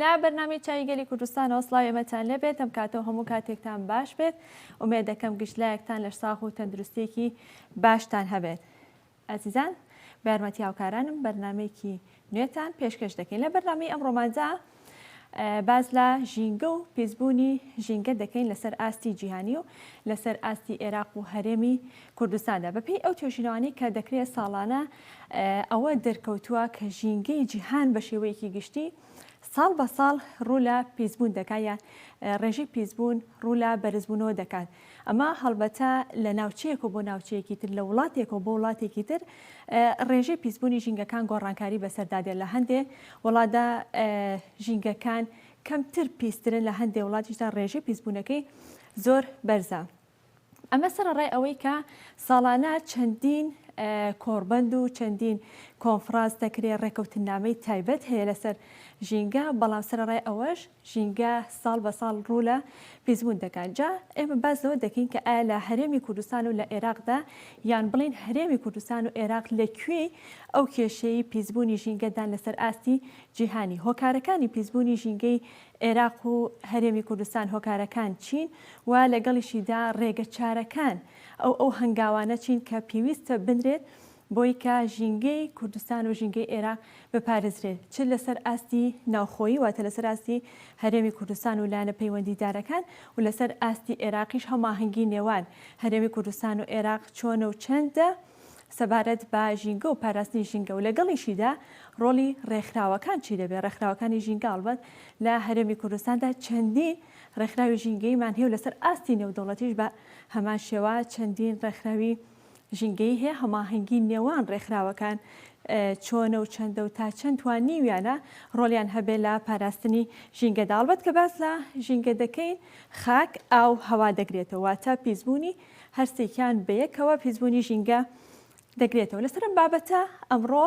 لە بەرنامی چای گەلی کوردستانەوە سلاوی ئەمەتان لەبێت ئەم کاتەوە هەموو کاتێکتان باش بێت ئومێ دەکەم گشتلایەکتان لە ساغ و تەندروستێکی باشتان هەبێت. ئازیزان بە یارمەتی هاوکارانم بەرنامەیەکی نوێتان پێشکەش دەکەین لە بەرنامەی ئەمڕۆماندا باز لە ژینگە و پیسبوونی ژینگە دەکەین لەسەر ئاستی جیهانی و لەسەر ئاستی عێراق و هەرێمی کوردستاندا بەپێی ئەو توێژینەوانی کە دەکرێت ساڵانە ئەوە دەرکەوتووە کە ژینگەی جیهان بە شێوەیەکی گشتی ساڵ بە ساڵ ڕوو لە پیسبوون دەکات یا ڕێژەی پیسبوون ڕوو لە بەرزبوونەوە دەکات ئەمە هەڵبەتە لە ناوچەیەکەوە بۆ ناوچەیەکی تر، لە وڵاتێکەوە بۆ وڵاتێکی تر ڕێژەی پیسبوونی ژینگەکان گۆڕانکاری بەسەردا دێت، لە هەندێ وڵاتدا ژینگەکان کەمتر پیسترن، لە هەندێ وڵاتیشدا ڕێژەی پیسبوونەکەی زۆر بەرزە. ئەمە سەرەڕای ئەوەی کە ساڵانە چەندین کۆڕبەند و چەندین کۆنفرانس دەکرێت ڕێکەوتنامەی تایبەت هەیە لەسەر ژینگە بەڵام سەرڕای ئەوەش ژینگە ساڵ بە ساڵ ڕوو لە پیسبوون دەکات، جا ئێمە باس لەوە دەکەین کە ئایا لە هەرێمی کوردستان و لە ئێراقدا یان بڵێین هەرێمی کوردستان و ئێراق لە کوێی ئەو کێشەی پیسبوونی ژینگەدان لەسەر ئاستی جیهانی؟ هۆکارەکانی پیسبوونی ژینگەی ئێراق و هەرێمی کوردستان هۆکارەکان چین و لەگەڵیشیدا ڕێگەچارەکان ئەو ئەو هەنگاوانە چین کە پێویستە بنرێت بۆی کە ژینگەی کوردستان و ژینگەی ئێراق بپارێزرێت چ لەسەر ئاستی ناوخۆیی واتە لەسەر ئاستی هەرێمی کوردستان و لایەنە پەیوەندیدارەکان و لەسەر ئاستی ئێراقیش هەماهەنگی نێوان هەرێمی کوردستان و ئێراق چۆنە و چەندە سەبارەت بە ژینگە و پاراستنی ژینگە و لەگەڵیشیدا ڕۆڵی ڕێکخراوەکان چی دەبێت ڕێکخراوەکانی ژینگە هەڵبەت لە هەرێمی کوردستاندا چەندین ڕێکخراوی ژینگەیمان هەیە و لەسەر ئاستی نێودەوڵەتیش بە هەمان شێوە چەندین ڕێکخراوی ژینگەیی هەیە، هەماهەنگی نێوان ڕێکخراوەکان چۆنە و چەندە و تا چەند توانیویانە ڕۆلیان هەبێ لە پاراستنی ژینگەدا. ئەڵبەت کە باس لە ژینگە دەکەین خاک، ئاو، هەوا دەگرێتەوە، واتە پیسبوونی هەرسێکیان بەیەکەوە پیسبوونی ژینگە دەگرێتەوە. لەسەر ئەم بابەتە ئەمڕۆ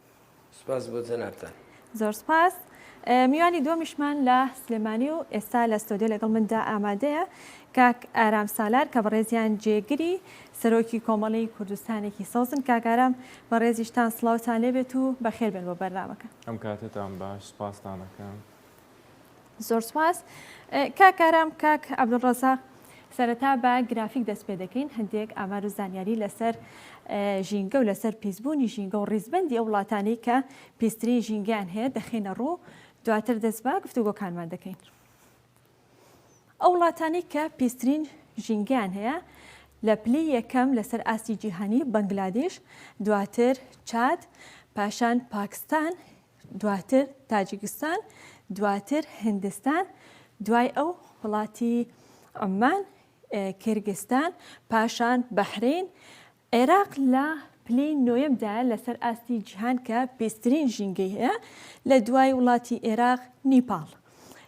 سپاس بۆ جەنابتان. زۆر سپاس. میوانی دووەمیشمان لە سلێمانی و ئێستا لە ستۆدیۆ لەگەڵ مندا ئامادەیە کاک ئارام سالار کە بەڕێزیان جێگری سەرۆکی کۆمەڵی کوردستانێکی سەوزن کاک ئارام بەڕێزیشتان سڵاوتان لێبێت و بەخێربێن بۆ بەرنامەکە. ئەم کاتەتان باش سپاستان ئەکەم. زۆر سوپاس کاک ئارام کاک عەبدولڕەزاق. سەرەتا بە گرافیک دەست پێ دەکەین هەندێک ئامار و زانیاری لەسەر ژینگە و لەسەر پیسبوونی ژینگە و ڕیزبەندی ئەو وڵاتانەی کە پیسترین ژینگەیان هەیە دەخینە ڕوو دواتر دەست بە گفتوگۆکانمان دەکەین. ئەو وڵاتانی کە پیسترین ژینگەیان هەیە لە پلی یەکەم لەسەر ئاستی جیهانی بەنگلادیش دواتر چاد پاشان پاکستان دواتر تاجیکستان، دواتر هندستان، دوای ئەو وڵاتی عوممان، کیرگستان، پاشان بەحرەین، عێراق لە پلەی نۆیەمدایە لەسەر ئاستی جیهان کە پیسترین ژینگەی هەیە، لە دوای وڵاتی عێراق نیپاڵ.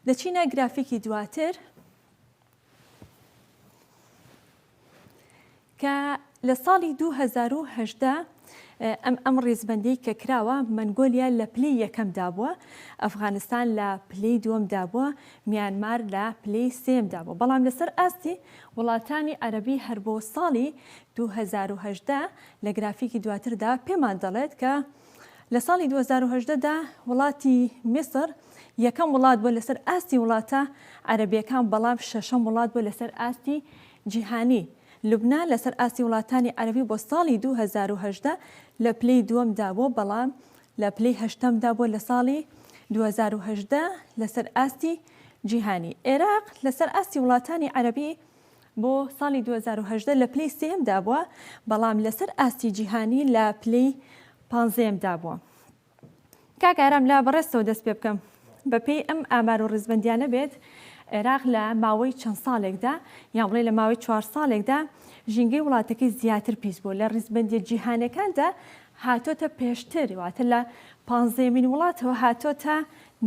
لە چینا گرافیکی دواتر، کە لە ساڵی دوو هەزار و هەژدە ئەم ئەم ڕیزبەندی کە کراوە مەنگۆلیا لە پلی یەکەمدا بووە ئەفغانستان لە پلی دووەمدا بووە میانمار لە پلی سێمدا بوو بەڵام لەسەر ئاستی وڵاتانی عەربی هەر بۆ ساڵی 2010 لە گرافیکی دواتردا پێمان دەڵێت کە لە ساڵی دوو هەزار و هەژدە دا وڵاتی میسر یەکەم وڵات بووە لەسەر ئاستی وڵاتە عەرەبییەکان بەڵام شەشەم وڵات بووە لەسەر ئاستی جیهانی. لوبنان لەسەر ئاستی وڵاتانی عەرەبی بۆ ساڵی دوو هەزار و هەژدە لە پلەی دووەم دا بووە بەڵام لە پلەی هەشتەم دا بووە لە ساڵی دوو هەزار و هەژدە لەسەر ئاستی جیهانی. ئێراق لەسەر ئاستی وڵاتانی عەرەبی بۆ ساڵی دوو هەزار و هەژدە لە پلەی سێیەم دابووە، بەڵام لەسەر ئاستی جیهانی لە پلەی پانزەیەم دابووە. کاک ئارام لە بەڕێزتەوە دەست پێ بکەم، بەپێی ئەم ئامار و ڕیزبەندیانە بێت عێراق لە ماوەی چەند ساڵێکدا یان بڵێ لە ماوەی چوار ساڵێکدا ژینگەی وڵاتەکەی زیاتر پیس بوو لە ڕیزبەندیە جیهانەکاندا هاتۆتە پێشتر واتە لە پانزەیەمین وڵاتەوە هاتۆتە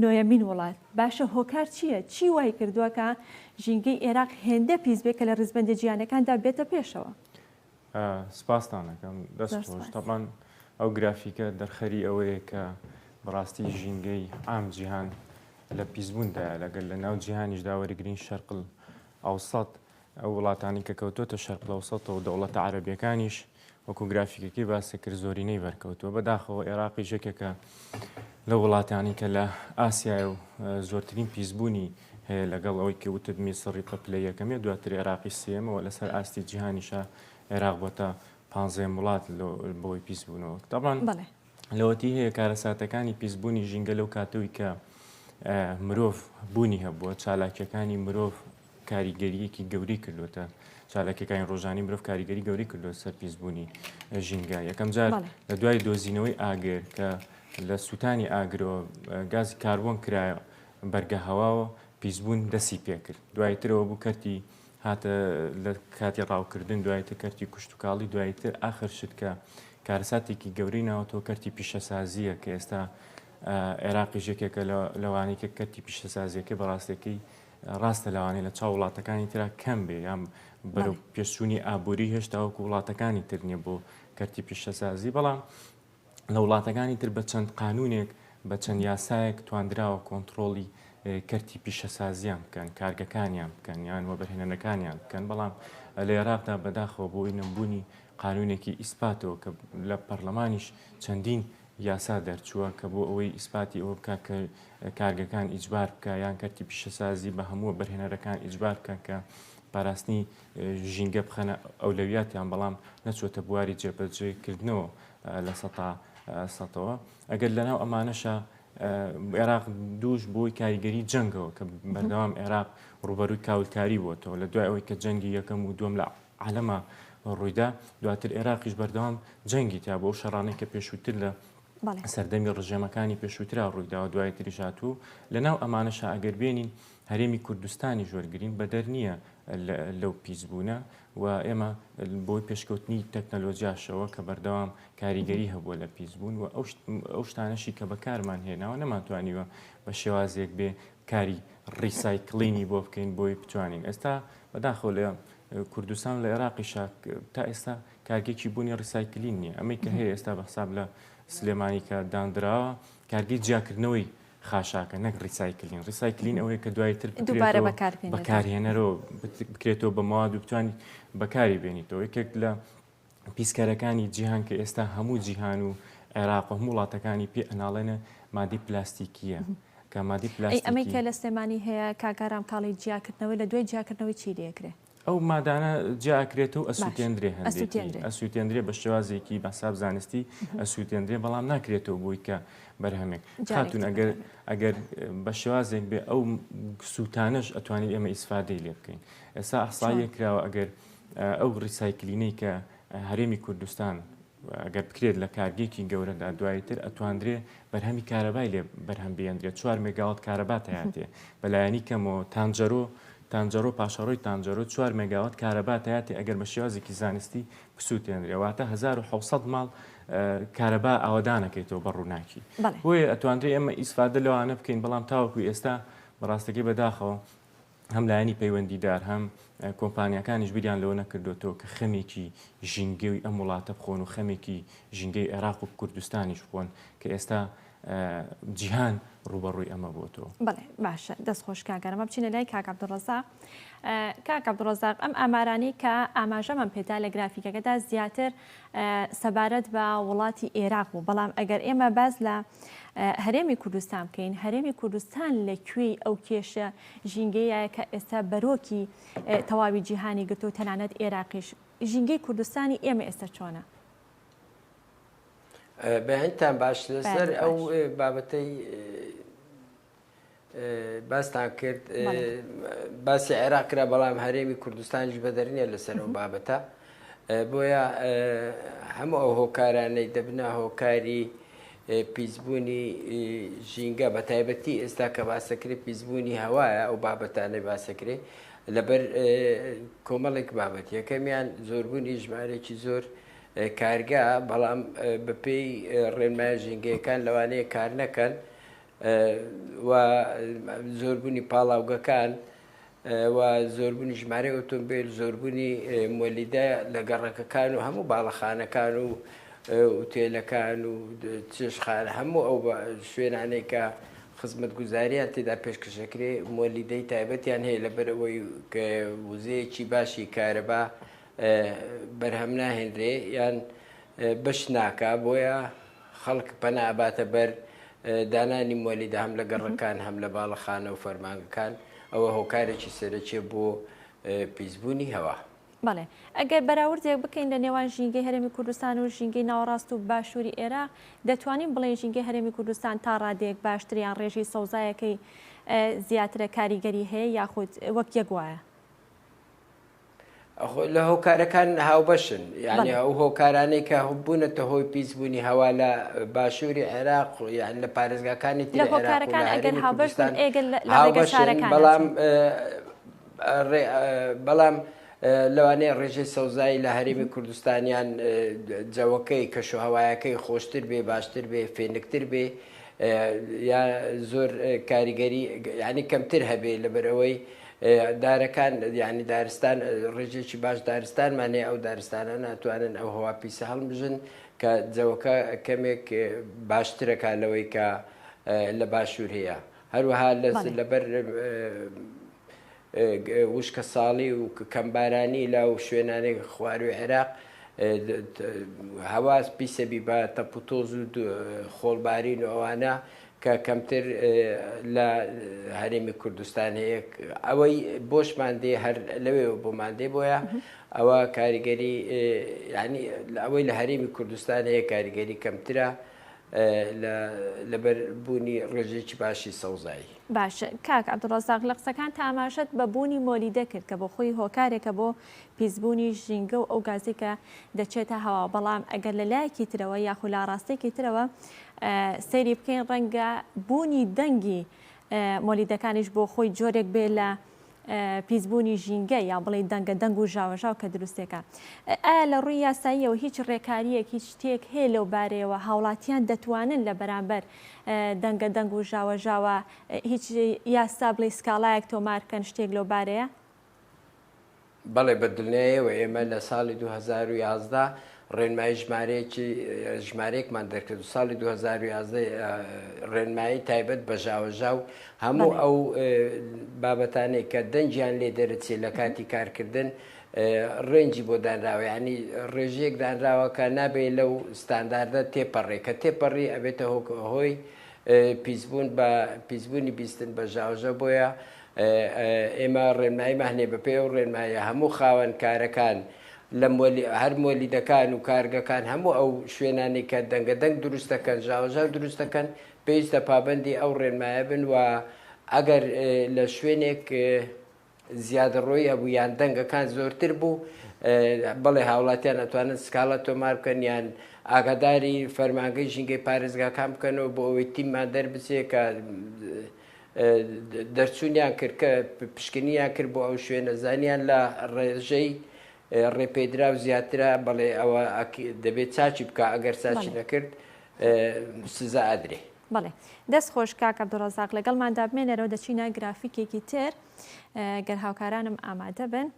نۆیەمین وڵات، باشە هۆکار چییە؟ چی وای کردووە کە ژینگەی ئێراق هێندە پیس بێت کە لە ڕیزبەندە جیهانەکاندا بێتە پێشەوە؟ سپاستان ئەکەم، دەست زۆر خۆش. سوپاس. تەبعەن ئەو گرافیکە دەرخەری ئەوەیە کە بە ڕاستی ژینگەی عام جیهان لە پیسبووندایە، لەگەر لە ناو جیهانیشدا وەریگرین شەرقل ئەوسەت ئەو وڵاتانەی کە کەوتۆتە شەرقلەوسەتەوە دەوڵەتە عەرەبیەکانیش وەکو گرافیکەکەی باسی کرد زۆرینەی بەرکەوتووە بەداخەوە عێراقی ژەکێکە لە وڵاتانی کە لە ئاسیای و زۆرترین پیسبوونی هەیە لەگەڵ ئەوەی کە وتت میسڕی پەپلە یەکەمێ دواتر عێراقی سێمەوە لەسەر ئاستی جیهانیشە عێراق بۆتە پانزێ وڵات بۆی پیسبوونەوە تاڵان لەوەتی هەیە کارەساتەکانی پیسبوونی ژینگە لەو کاتەوەی کە مرۆڤ بوونی هەبووە چالاکیەکانی مرۆڤ کاریگەریەکی گەورەی کردوتە چالاکیەکانی ڕۆژانی مرۆڤ کاریگەری گەورەی کردو سەر پیسبوونی ژینگە یەکەم جار لە دوای دۆزینەوەی ئاگر کە لە سووتانی ئاگرەوە گاز کاربۆن کرایە بەرگە هەواوە پیسبوون دەسی پێکرد دوایترەوە بوو کەرتی هاتە لە کاتی ڕاوکردن دوایتە کەرتی کوشتتوکاڵی دوایتر ئاخر شت کە کارساتێکی گەورەی ناوەتەوە کەرتی پیشەسازیە کە ئێستا عێراقی ژێکێکە لەوانەیە کەرتی پیشەسازیەکە بەڕاستەکەی ڕاستە لەوانەیە لە چاو وڵاتەکانی ترا کەم بێ یان بەرەو پێشچووی ئابووری هێشتا وەکو وڵاتەکانی تر نیە بۆ کەرتی پیشەسازی بەڵام لە وڵاتەکانی تر بە چەند قانونێک بە چەند یاسایەک تواندراوە کۆنتترۆڵی کەرتی پیشەسازیان بکەن کارگەکانیان بکەن یان وەبرهێنەکانیان بکەن بەڵام لە عێراقدا بەداخەوە بۆی نەمبوونی قانونێکی ئیسپاتەوە کە لە پەرلەمانیش چەندین یاسا دەرچووە کە بۆ ئەوەی ئیسپاتی ئەوە بکات کە کارگەکان ئیجبار بکە یان کەرتی پیشەسازی بە هەمووە بەرهێنەرەکان ئیجبار بکەن کە پاراستنی ژینگە بخەنە ئەولەویاتیان بەڵام نەچۆتە بواری جێبەجێکردنەوە لە سەتا سەتەوە ئەگەر لەناو ئەمانەشە عێراق دووش بۆی کاریگەری جەنگەوە کە بەردەوام عێراق ڕوبەروی کاولکاری بۆتەوە لە دوای ئەوەی کە جەنگی یەکەم و دوم لە عەلەما ڕوویدا، دواتر ئێراقیش بەردەوام جەنگی تیا بوو، ئەو شەڕانەی کە پێشووتر لە سەردەمی ڕژێمەکانی پێشووترا ڕوویداوە دوایتریش هاتوو، لەناو ئەمانەشا ئەگەر بێنین هەرێمی کوردستانیش وەرگرین بەدەر نییە لەو پیسبوونە و ئێمە بۆی پێشکەوتنی تەکنەلۆجیاشەوە کە بەردەوام کاریگەری هەبووە لە پیسبوون و ئەو شتانەشی کە بەکارمان هێناوە نەمانتوانیوە بە شێوازێک بێ کاری ڕیسایکلینی بۆ بکەین بۆی بتوانین ئێستا بەداخۆ لە کوردستان لە ئێراقیشا تا ئێستا کارگێکی بوونی ڕیسایکلین نییە ئەمەی کە هەیە ئێستا بە حساب لە سلێمانی کە دانراوە کارگەی جیاکردنەوەی خاشاکە نەک ڕیسایکلین ڕیسایکلین ئەوەیە کە دوای تر دووبارە بەکارهێنەرەوە بکرێتەوە بە مواد و بتوانانی بەکاری بێنیتەوە یەکێک لە پیسکەرەکانی جیهان کە ئێستا هەموو جیهان و عێراق و هەموو وڵاتەکانی پێ ئەناڵێنە مادەی پلاستیکیە کە مادی پلاستیکی ئەمەی کە لە سلێمانی هەیە کاکارام کاڵی جیاکردنەوەی لە دوای جیاکردنەوەی چی لەکرێ ئەو مادانە جیاکرێت و ئەسووتێندرێ هەندێکی ئەسووتێندرێ بە شێوازێکی بەساب زانستی ئەسووتێندرێ بەڵام ناکرێتەوە بووی کە بەرهەمێک خاتون ئەگەر ئەگەر بە شێوازێک بێ ئەو سووتانەش ئەتوانین ئێمە ئیسفادەی لێ بکەین ئێستا ئەحساییە کراوە ئەگەر ئەو ڕیسایکلینەی کە هەرێمی کوردستان گەر بکرێت لە کارگەیەکی گەورەدا دوایی تر ئەتواندرێ بەرهەمی کارەبای لێ بەرهەم بێندرێت چوار مێگاوات کارەبا تیاتێ بەلایەنی کەمەوە تانجەرۆ تانجەرۆ پاشەڕۆی تانجەرۆ چوار مێگاوات کارەبا تیاتێ ئەگەر بە شێوازێکی زانستی بسووتێنرێ واتە 1970 ماڵ کارەبا ئاوادانەکەیتەوە بە ڕووناکی بۆیە ئەتواندرێ ئێمە ئیسفادە لەوانە بکەین بەڵام تاوەکو ئێستا بەڕاستەکەی بەداخەوە هەم لایەنی پەیوەندیدار هەم کۆمپانیاکانیش بیریان لەوە نەکردوەوە کە خەمێکی ژینگەوی ئەم وڵاتە بخۆن و خەمێکی ژینگەی عێراق و کوردستانیش بخۆن کە ئێستا جیهان ڕوبەڕووی ئەمە بۆتەوە بڵێ باشە دەست خۆشکاگەرمە بچینە لای کاک عبدڕزاق کاک عبدڕزاق ئەم ئامارانی کە ئاماژەمان پێدا لە گرافیکەکەدا زیاتر سەبارەت بە وڵاتی ئێراق بوو بەڵام ئەگەر ئێمە باز لە هەرێمی کوردستان بکەین هەرێمی کوردستان لە کوێی ئەو کێشە ژینگەیەیە کە ئێستا بەرۆکی تەواوی جیهانی گرتووە و تەنانەت ئێراقیش. ژینگەی کوردستانی ئێمە ئێستا چۆنە؟ بە هەندتان باش لەسەر ئەو بابەتەی باستان کرد باسی عێراق کرا بەڵام هەرێمی کوردستانیش بەدەرنیە لەسەر ئەو بابەتە بۆیە هەموو ئەو هۆکارانەی دەبنا هۆکاری پیسبوونی ژینگە بە تایبەتی ئێستا کە باسەکرێ پیسبوونی هەوایە ئەو بابەتانەی باسەکرێ لەبەر کۆمەڵێک بابەت یەکەمیان زۆربوونی ژمارێکی زۆر کارگە بەڵام بەپێی ڕێنمای ژینگەکان لەوانەیە کار نەکەن و زۆربوونی پاڵاوگەکان و زۆربوونی ژمارەی ئۆتۆمبێل، زۆربوونی مۆلیدە لە گەڕەکەکان و هەموو باڵەخانەکان و ئوتێلەکان و چێشتخانە هەموو ئەو شوێنانەی کە خزمەتگوزاریان تێدا پێشکەش دەکرێ مۆلیدەی تایبەتیان هەیە لەبەر ئەوەی وزەیەکی باشی کارەبا بەرهەم ناهێنرێ یان بەش ناکا بۆیە خەڵک پەنا ئەباتە بەر دانانی مۆلیدە هەم لە گەڕەکان هەم لە باڵەخانە و فەرمانگەکان، ئەوە هۆکارێکی سەرەکیە بۆ پیسبوونی هەوا. بەڵێ ئەگەر بەراوردێک بکەین لە نێوان ژینگەی هەرێمی کوردستان و ژینگەی ناوەڕاست و باشووری ئێراق، دەتوانین بڵێین ژینگەی هەرێمی کوردستان تا ڕادەیەک باشترە یان ڕێژەی سەوزایەکەی زیاترە کاریگەری هەیە یاخود وەک یەک وایە؟ لە هۆکارەکان هاوبەشن یعنی ئەو هۆکارانەی کە بوونەتە هۆی پیسبوونی هەوا لە باشووری عێراق یان لە پارێزگاکانی بەڵام بەڵام لەوانەیە ڕێژەی سەوزایی لە هەرێمی کوردستانیان جەوەکەی کەش و هەوایەکەی خۆشتر بێ باشتر بێ فێنکتر بێ یا زۆر کاریگەری ینی کەمتر هەبێ لەبەرەوەی دارەکان یانی دارستان ڕێژێکی باش دارستانمان هەیە ئەو دارستانە ناتوانن ئەو هەوا پیسە هەڵمژن کە جەوەکە کەمێک باشترەکە لەوەی کە لە باشوور هەیە هەروەها لەبەر وشکە ساڵی و کەمبارانی لا و شوێنانی خواروی عێراق هەواز پیسەبی بە تەپوتۆز و خۆڵبارین و ئەوانە کە کەمتر لە هەرێمی کوردستان هەیە ئەوەی بۆشمان دێ هەر لەوێەوە بۆمان دێ بۆیە ئەوە کاریگەری ینی ئەوەی لە هەرێمی کوردستان هەیە کاریگەری کەمترە لەبەر بوونی ڕێژێکی باشی سەوزایی باش کاک عبدڕزاق لە قسەکان تاماشەت بە بوونی مۆلیدە کرد کە بۆ خۆی هۆکارێکە بۆ پیسبوونیش ژینگە و ئەو گازەی کە دەچێتە هەوا، بەڵام ئەگەر لە لایەکی ترەوە یاخود لە ئاراستەیەکی ترەوە سەیری بکەین ڕەنگە بوونی دەنگی مۆلیدەکانیش بۆ خۆی جۆرێک بێ لە پیسبوونی ژینگە یا بڵێ دەنگە دەنگ و ژاوەژاو کە دروستێکە ئایا لە ڕووی یاساییەوە هیچ ڕێکاریەک هیچ شتێک هەیە لەو بارەیەوە هاوڵاتیان دەتوانن لە بەرامبەر دەنگە دەنگ و ژاوەژاوە هیچ یاسا بڵێ سکاڵایەک تۆمارکەن شتێک لەو بارەیە بەڵێ بە دلنیایەوە ئێمە لە ساڵی 2011 ڕێنمایی ژمارەیەکی ژمارەیەکمان دەکرد و ساڵی 2011 ڕێنمایی تایبەت بە ژاوەژا و هەموو ئەو بابەتانەی کە دەنجیان لێ دەرەچێت لە کاتی کارکردن ڕێنجی بۆ دانراوە ینی ڕێژەیەک دانراوە کە نابێت لەو ستانداردە تێپەڕێ کە تێپەڕی ئەبێتە هۆی هۆی پیسبوون بە پیسبوونی بیستن بە ژاوژە بۆیە ئێمە ڕێنماییمان هەیە، بەپێی ئەو ڕێنماییە هەموو خاوەن کارەکان لە هەر مۆلیدەکان و کارگەکان هەموو ئەو شوێنانەی کە دەنگە دەنگ دروست دەکەن ژاوەژاو دروست دەکەن پێویستە پابەندی ئەو ڕێنمایە بن و ئەگەر لە شوێنێک زیادەڕۆی هەبوو یان دەنگەکان زۆرتر بوو بەڵێ هاوڵاتیان ئەتوانن سکاڵە تۆمار بکەن یان ئاگاداری فەرمانگەی ژینگەی پارێزگاکان بکەنەوە بۆ ئەوەی تیممان دەربچێت کە دەرچوونیان کرد کە پشکنیان کرد بۆ ئەو شوێنە زانیان لە ڕێژەی ڕێپێدرا و زیاترە بەڵێ ئەوە دەبێت چاچی بکە ئەگەر ساچی نەکرد سزا ئەدرێ. بڵێ دەست خۆش کاک عبدڕزاق لەگەڵمان دابمێنەرەوە دەچینە گرافیکێکی تر گەر هاوکارانم ئامادە بن.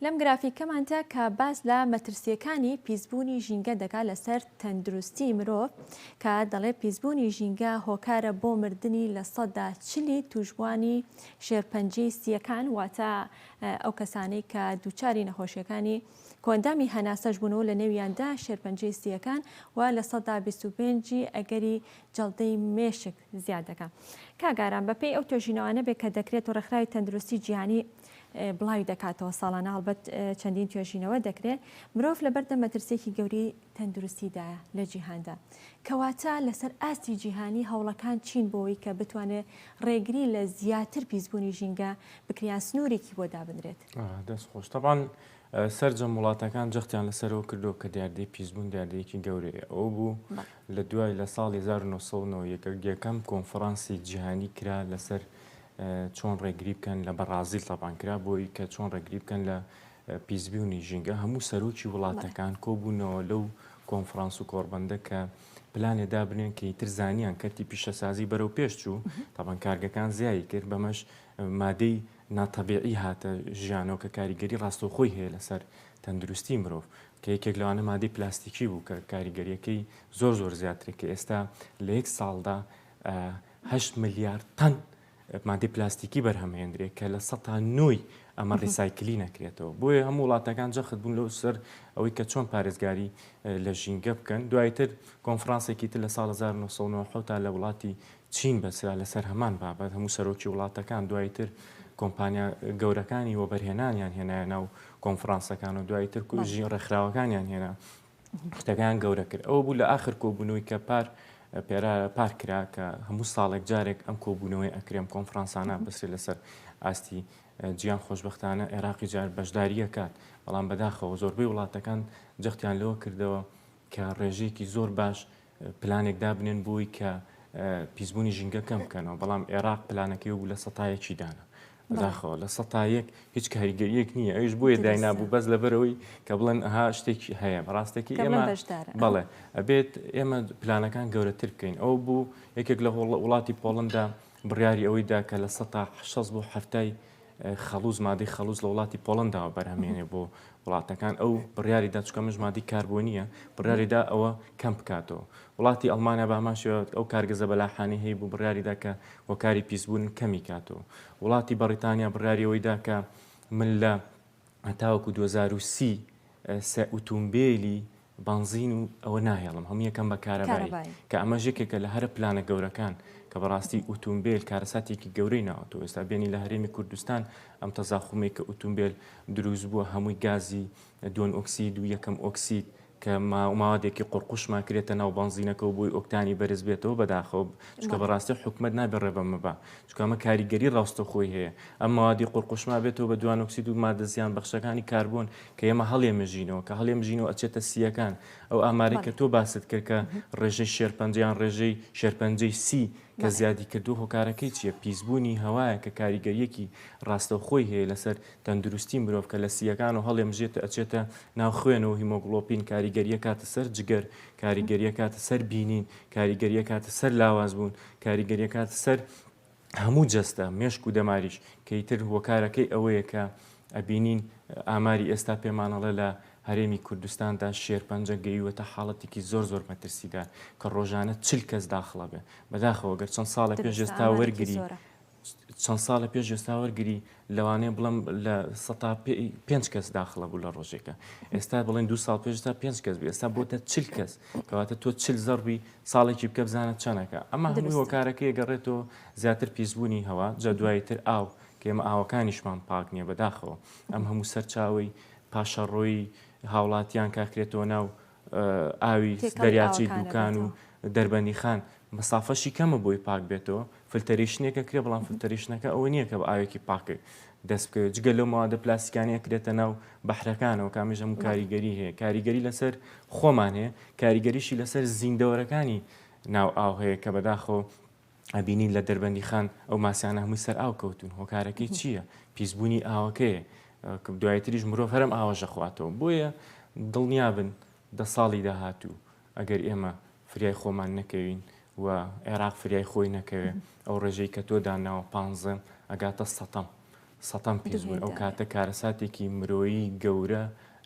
لەم گرافیکەمانتە کە باس لە مەترسیەکانی پیسبوونی ژینگە دەکات لەسەر تەندروستی مرۆڤ کە دەڵێ پیسبوونی ژینگە هۆکارە بۆ مردنی لە سەدا چلی توشبوانی شێرپەنجی سیەکان واتە ئەو کەسانەی کە دووچاری نەخۆشیەکانی کۆندامی هەناسەش بوون و لە نێویاندا شێرپەنجی سیەکان و لە سەدا 25 ئەگەری جەڵدەی مێشک زیاد دەکا. کاک ئارام بە پێی ئەو توێژینەوانە بێ کە دەکرێت و ڕێکخراوی تەندروستی جیهانی بڵاوی دەکاتەوە ساڵانە هەڵبەت چەندین توێژینەوە دەکرێ مرۆڤ لە بەردەم مەترسێکی گەوری تەندروستیدایە لە جیهاندا کەواتە لەسەر ئاستی جیهانی هەوڵەکان چین بۆەوەی کە بتوانێت ڕێگری لە زیاتر پیسبوونی ژینگە بکریان سنوورێکی بۆ دابنرێت دەست خۆش تەبان سەرجەم وڵاتەکان جەختیان لەسەرەوە کردووە کە دیاردەی پیسبوون دیاردەیەکی گەورەیە، ئەوە بوو لە دوای لە ساڵی هەزار و نۆ سەد و نۆ ی یەکەم کۆنفرانسی جیهانی کرا لەسەر چۆن ڕێگری بکەن لە بەڕازیل تەبان کرا بۆ ی کە چۆن ڕێگری بکەن لە پیسبوونی ژینگە هەموو سەرۆکی وڵاتەکان کۆبوونەوە لەو کۆنفرانس و کۆڕبەندە کە پلانێ دابنێن کە ئیتر زانیان کەرتی پیشەسازی بەرەو پێش چوو تەبان کارگەکان زیایی کرد بەمەش مادەی ناتەبیعی هاتە ژیانەوە کە کاریگەری ڕاستەوخۆی هەیە لەسەر تەندروستی مرۆڤ کە یەکێک لەوانە مادەی پلاستیکی بوو کە کاریگەریەکەی زۆر زۆر زیاترە کە ئێستا لە یەک ساڵدا هەشت ملیار تەن مادەی پلاستیکی بەرهەمهێندرێ کە لە سە تا نۆی ئەمە ڕیسایکلی نەکرێتەوە بۆیە هەموو وڵاتەکان جەخت بوون لەو سەر ئەوەی کە چۆن پارێزگاری لە ژینگە بکەن دوایتر کۆنفرانسێکی تر لە ساڵ 1990 تا لە وڵاتی چین بەسرا لەسەر هەمان بابەت هەموو سەرۆکی وڵاتەکان دوای تر کۆمپانیا گەورەکانی وەبەرهێنانیان هێنایە ناو کۆنفرانسەکان و دوای تر کوژی ڕێکخراوەکانیان هێنا شتەکان گەورە کرد ئەوە بوو لە آخر کۆبوونەوەی کە پار پێرا پار کرا کە هەموو ساڵێک جارێک ئەم کۆبوونەوەی ئەکرێم کۆنفرانسانە بەسێ لەسەر ئاستی جیان خۆشببختانە عێراقی جار بەشداریەکات بەڵام بەداخەوە زۆربەی وڵاتەکان جەختیان لەوە کردەوە کە ڕێژەیەکی زۆر باش پلانێک دابنێن بۆی کە پیسبوونی ژینگە کەم بکەنەوە بەڵام عێراق پلانەکەی بوو لە سەتایەکی دانا داخەوە لە سەتایەک هیچ کاریگەریەک نییە ئەوش بۆیە داینابوو بەس لەبەرەوەی کە بڵێن ها شتێکی هەیە ڕاستەکە ئێمە بەڵێ ئەبێت ئێمە پلانەکان گەورەتر بکەین ئەو بوو یەکێک لە وڵاتی پۆڵندا بڕیاری ئەوەی دا کە لە سەتا شەست بۆ حەفتای خەڵوز مادەی خەڵوز لە وڵاتی پۆڵنداوە بەرهەمێنێ بۆ وڵاتەکان ئەو بڕیاری دا چکە مش مادی کاربۆنیە بڕیاری دا ئەوە کەم بکاتەوە وڵاتی ئەلمانیا باماشەوە ئەو کارگەزە بەلاحانی هەیە بوو بڕیاریدا کە وەکاری پیسبوون کەمی کاتەوە وڵاتی بەڕیتانیا بڕیاریەوەی دا کە من لە هەتاوەکو دوو هەزار و سی سێ ئوتومبیلی بەنزین و ئەوە ناهێڵم هەموو یەکەم بە کارەبایی کە ئەمە ژێکێکە لە هەرە پلانە گەورەکان کە بەڕاستی ئوتومبیل کارەساتێکی گەورەی ناوەتەوە ئێستا بێنی لە هەرێمی کوردستان ئەم تەزاخومێک کە ئوتومبیل دروست بووە هەمووی گازی دوۆن ئۆکسید و یەکەم ئۆکسید کە ماوەدێکی قوڕقوشمان کرێتە ناو بەنزینەکە و بۆی ئۆکتانی بەرز بێتەوە بەداخەوە چکە بەڕاستی حکومت نابێ ڕێبەمە بە چکامە کاریگەری ڕاستە خۆی هەیە ئەم ماوادی قوڕقوشما بێتەوە بە دوانۆکسید و مادە زیان بەخشەکانی کاربوون کە ئێمە هەڵێمەژینەوە کە هەڵێمژینەوە ئەچێتە سیەکان ئەو ئامارێک کە تۆ باست کرد کە ڕێژەی شێرپەنجیان ڕێژەی شێرپەنجەی سی کە زیادی کردو هۆکارەکەی چیە پیسبوونی هەوایە کە کاریگەریەکی ڕاستەوخۆی هەیە لەسەر تەندروستی مرۆڤ کە لە سییەکان و هەڵێمژێت ئەچێتە ناو خوێن و هیمۆگڵۆپین کاریگەری ئەکاتە سەر جگەر، کاریگەری ئەکاتە سەر بینین، کاریگەری ئەکاتە سەر لاواز بوون، کاریگەری ئەکاتە سەر هەموو جەستە، مێشک و دەماریش کە ئیتر هۆکارەکەی ئەوەیە کە ئەبینین ئاماری ئێستا پێمان ئەڵێ لە هەرێمی کوردستاندا شێرپەنجە گەیوەتە حاڵەتێکی زۆر زۆر مەترسیدار کە ڕۆژانە چل کەس داخڵەبێ بەداخەوە گەر چەند ساڵێک پێش ئێستا وەرگری چەند ساڵە پێش ئێستا وەرگری لەوانەیە بڵم لە سە پێنج کەس داخڵە بوو لە ڕۆژێکە ئێستا بڵێن دو ساڵ پێشتا پێنج کەس بوو ئێستا بۆتە چل کەس کەواتە تۆ چل زەڕبی ساڵێکی بکە بزانە چەنەکە ئەمە هەموو هۆکارەکە گەڕێتەوە زیاتر پیسبوونی هەوا جا دوایی تر ئاو کێمە ئاوەکانیشمان پاک نییە بەداخەوە ئەم هەموو سەرچاوی پاشەڕۆی هاوڵاتیان کاکرێتەوە ناو ئاوی دەریاچەی دووکان و دەربەندی خان مەسافەشی کەمە بۆی پاک بێتەوە فلتەریشنێکە کرێ بەڵام فلتەریشنەکە ئەوە نییە کە بە ئاوێکی پاکێک دەست بکەوێت جگە لەو ماوادە پلاسیکانەیە کرێتە ناو بەحرەکانەوە کامیش هەموو کاریگەری هەیە کاریگەری لەسەر خۆمان هەیە کاریگەریشی لەسەر زیندەوەرەکانی ناو ئاو هەیە کە بەداخەوە ئەبینین لە دەربەندیخان ئەو ماسیانە هەمووی سەر ئاو کەوتون هۆکارەکەی چییە پیسبوونی ئاوەکەیە دوایتریش مرۆڤ هەرم ئاوەژە خواتەوە بۆیە دڵنیابن دە ساڵی داهاتوو ئەگەر ئێمە فریای خۆمان نەکەوین و عێراق فریای خۆی نەکەوێ ئەو ڕێژەی کە تۆ داناوە پانزەم ئەگاتە سەتەم سەتەم پیس بوون ئەو کاتە کارەساتێکی مرۆیی گەورە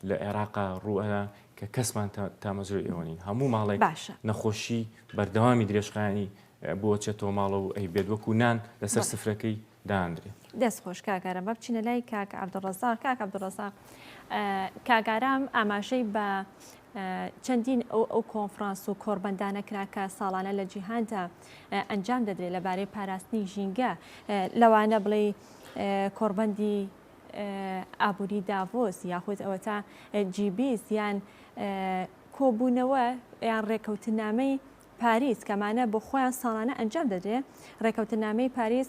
لە عێراقا ڕووئەنا کە کەسمان تامەزرۆی ئێوە نین هەموو ماڵێک باشە نەخۆشی بەردەوامی درێژخانی بۆچێتەوە ماڵە و ئەی بێت وەکو نان لەسەر سفرەکەی دانرێ دەست خۆش کاکارە بە بچینە لای کاک عبدڕزا کاک عبدڕزا کاگارام ئاماژەی بە چەندین ئەو ئەو کۆنفرانس و کۆربەندانە کراکە ساڵانە لە جیهاندا ئەنجام دەدرێت لەبارەی پاراستنی ژینگە لەوانە بڵێ کۆڕبەندی ئابووری داڤۆس یاخود ئەوەتا جیبیس یان کۆبوونەوە یان ڕێکەوتنامەی پاریس کەمانە بۆ خۆیان ساڵانە ئەنجام دەدرێ ڕێکەوتنامەی پاریس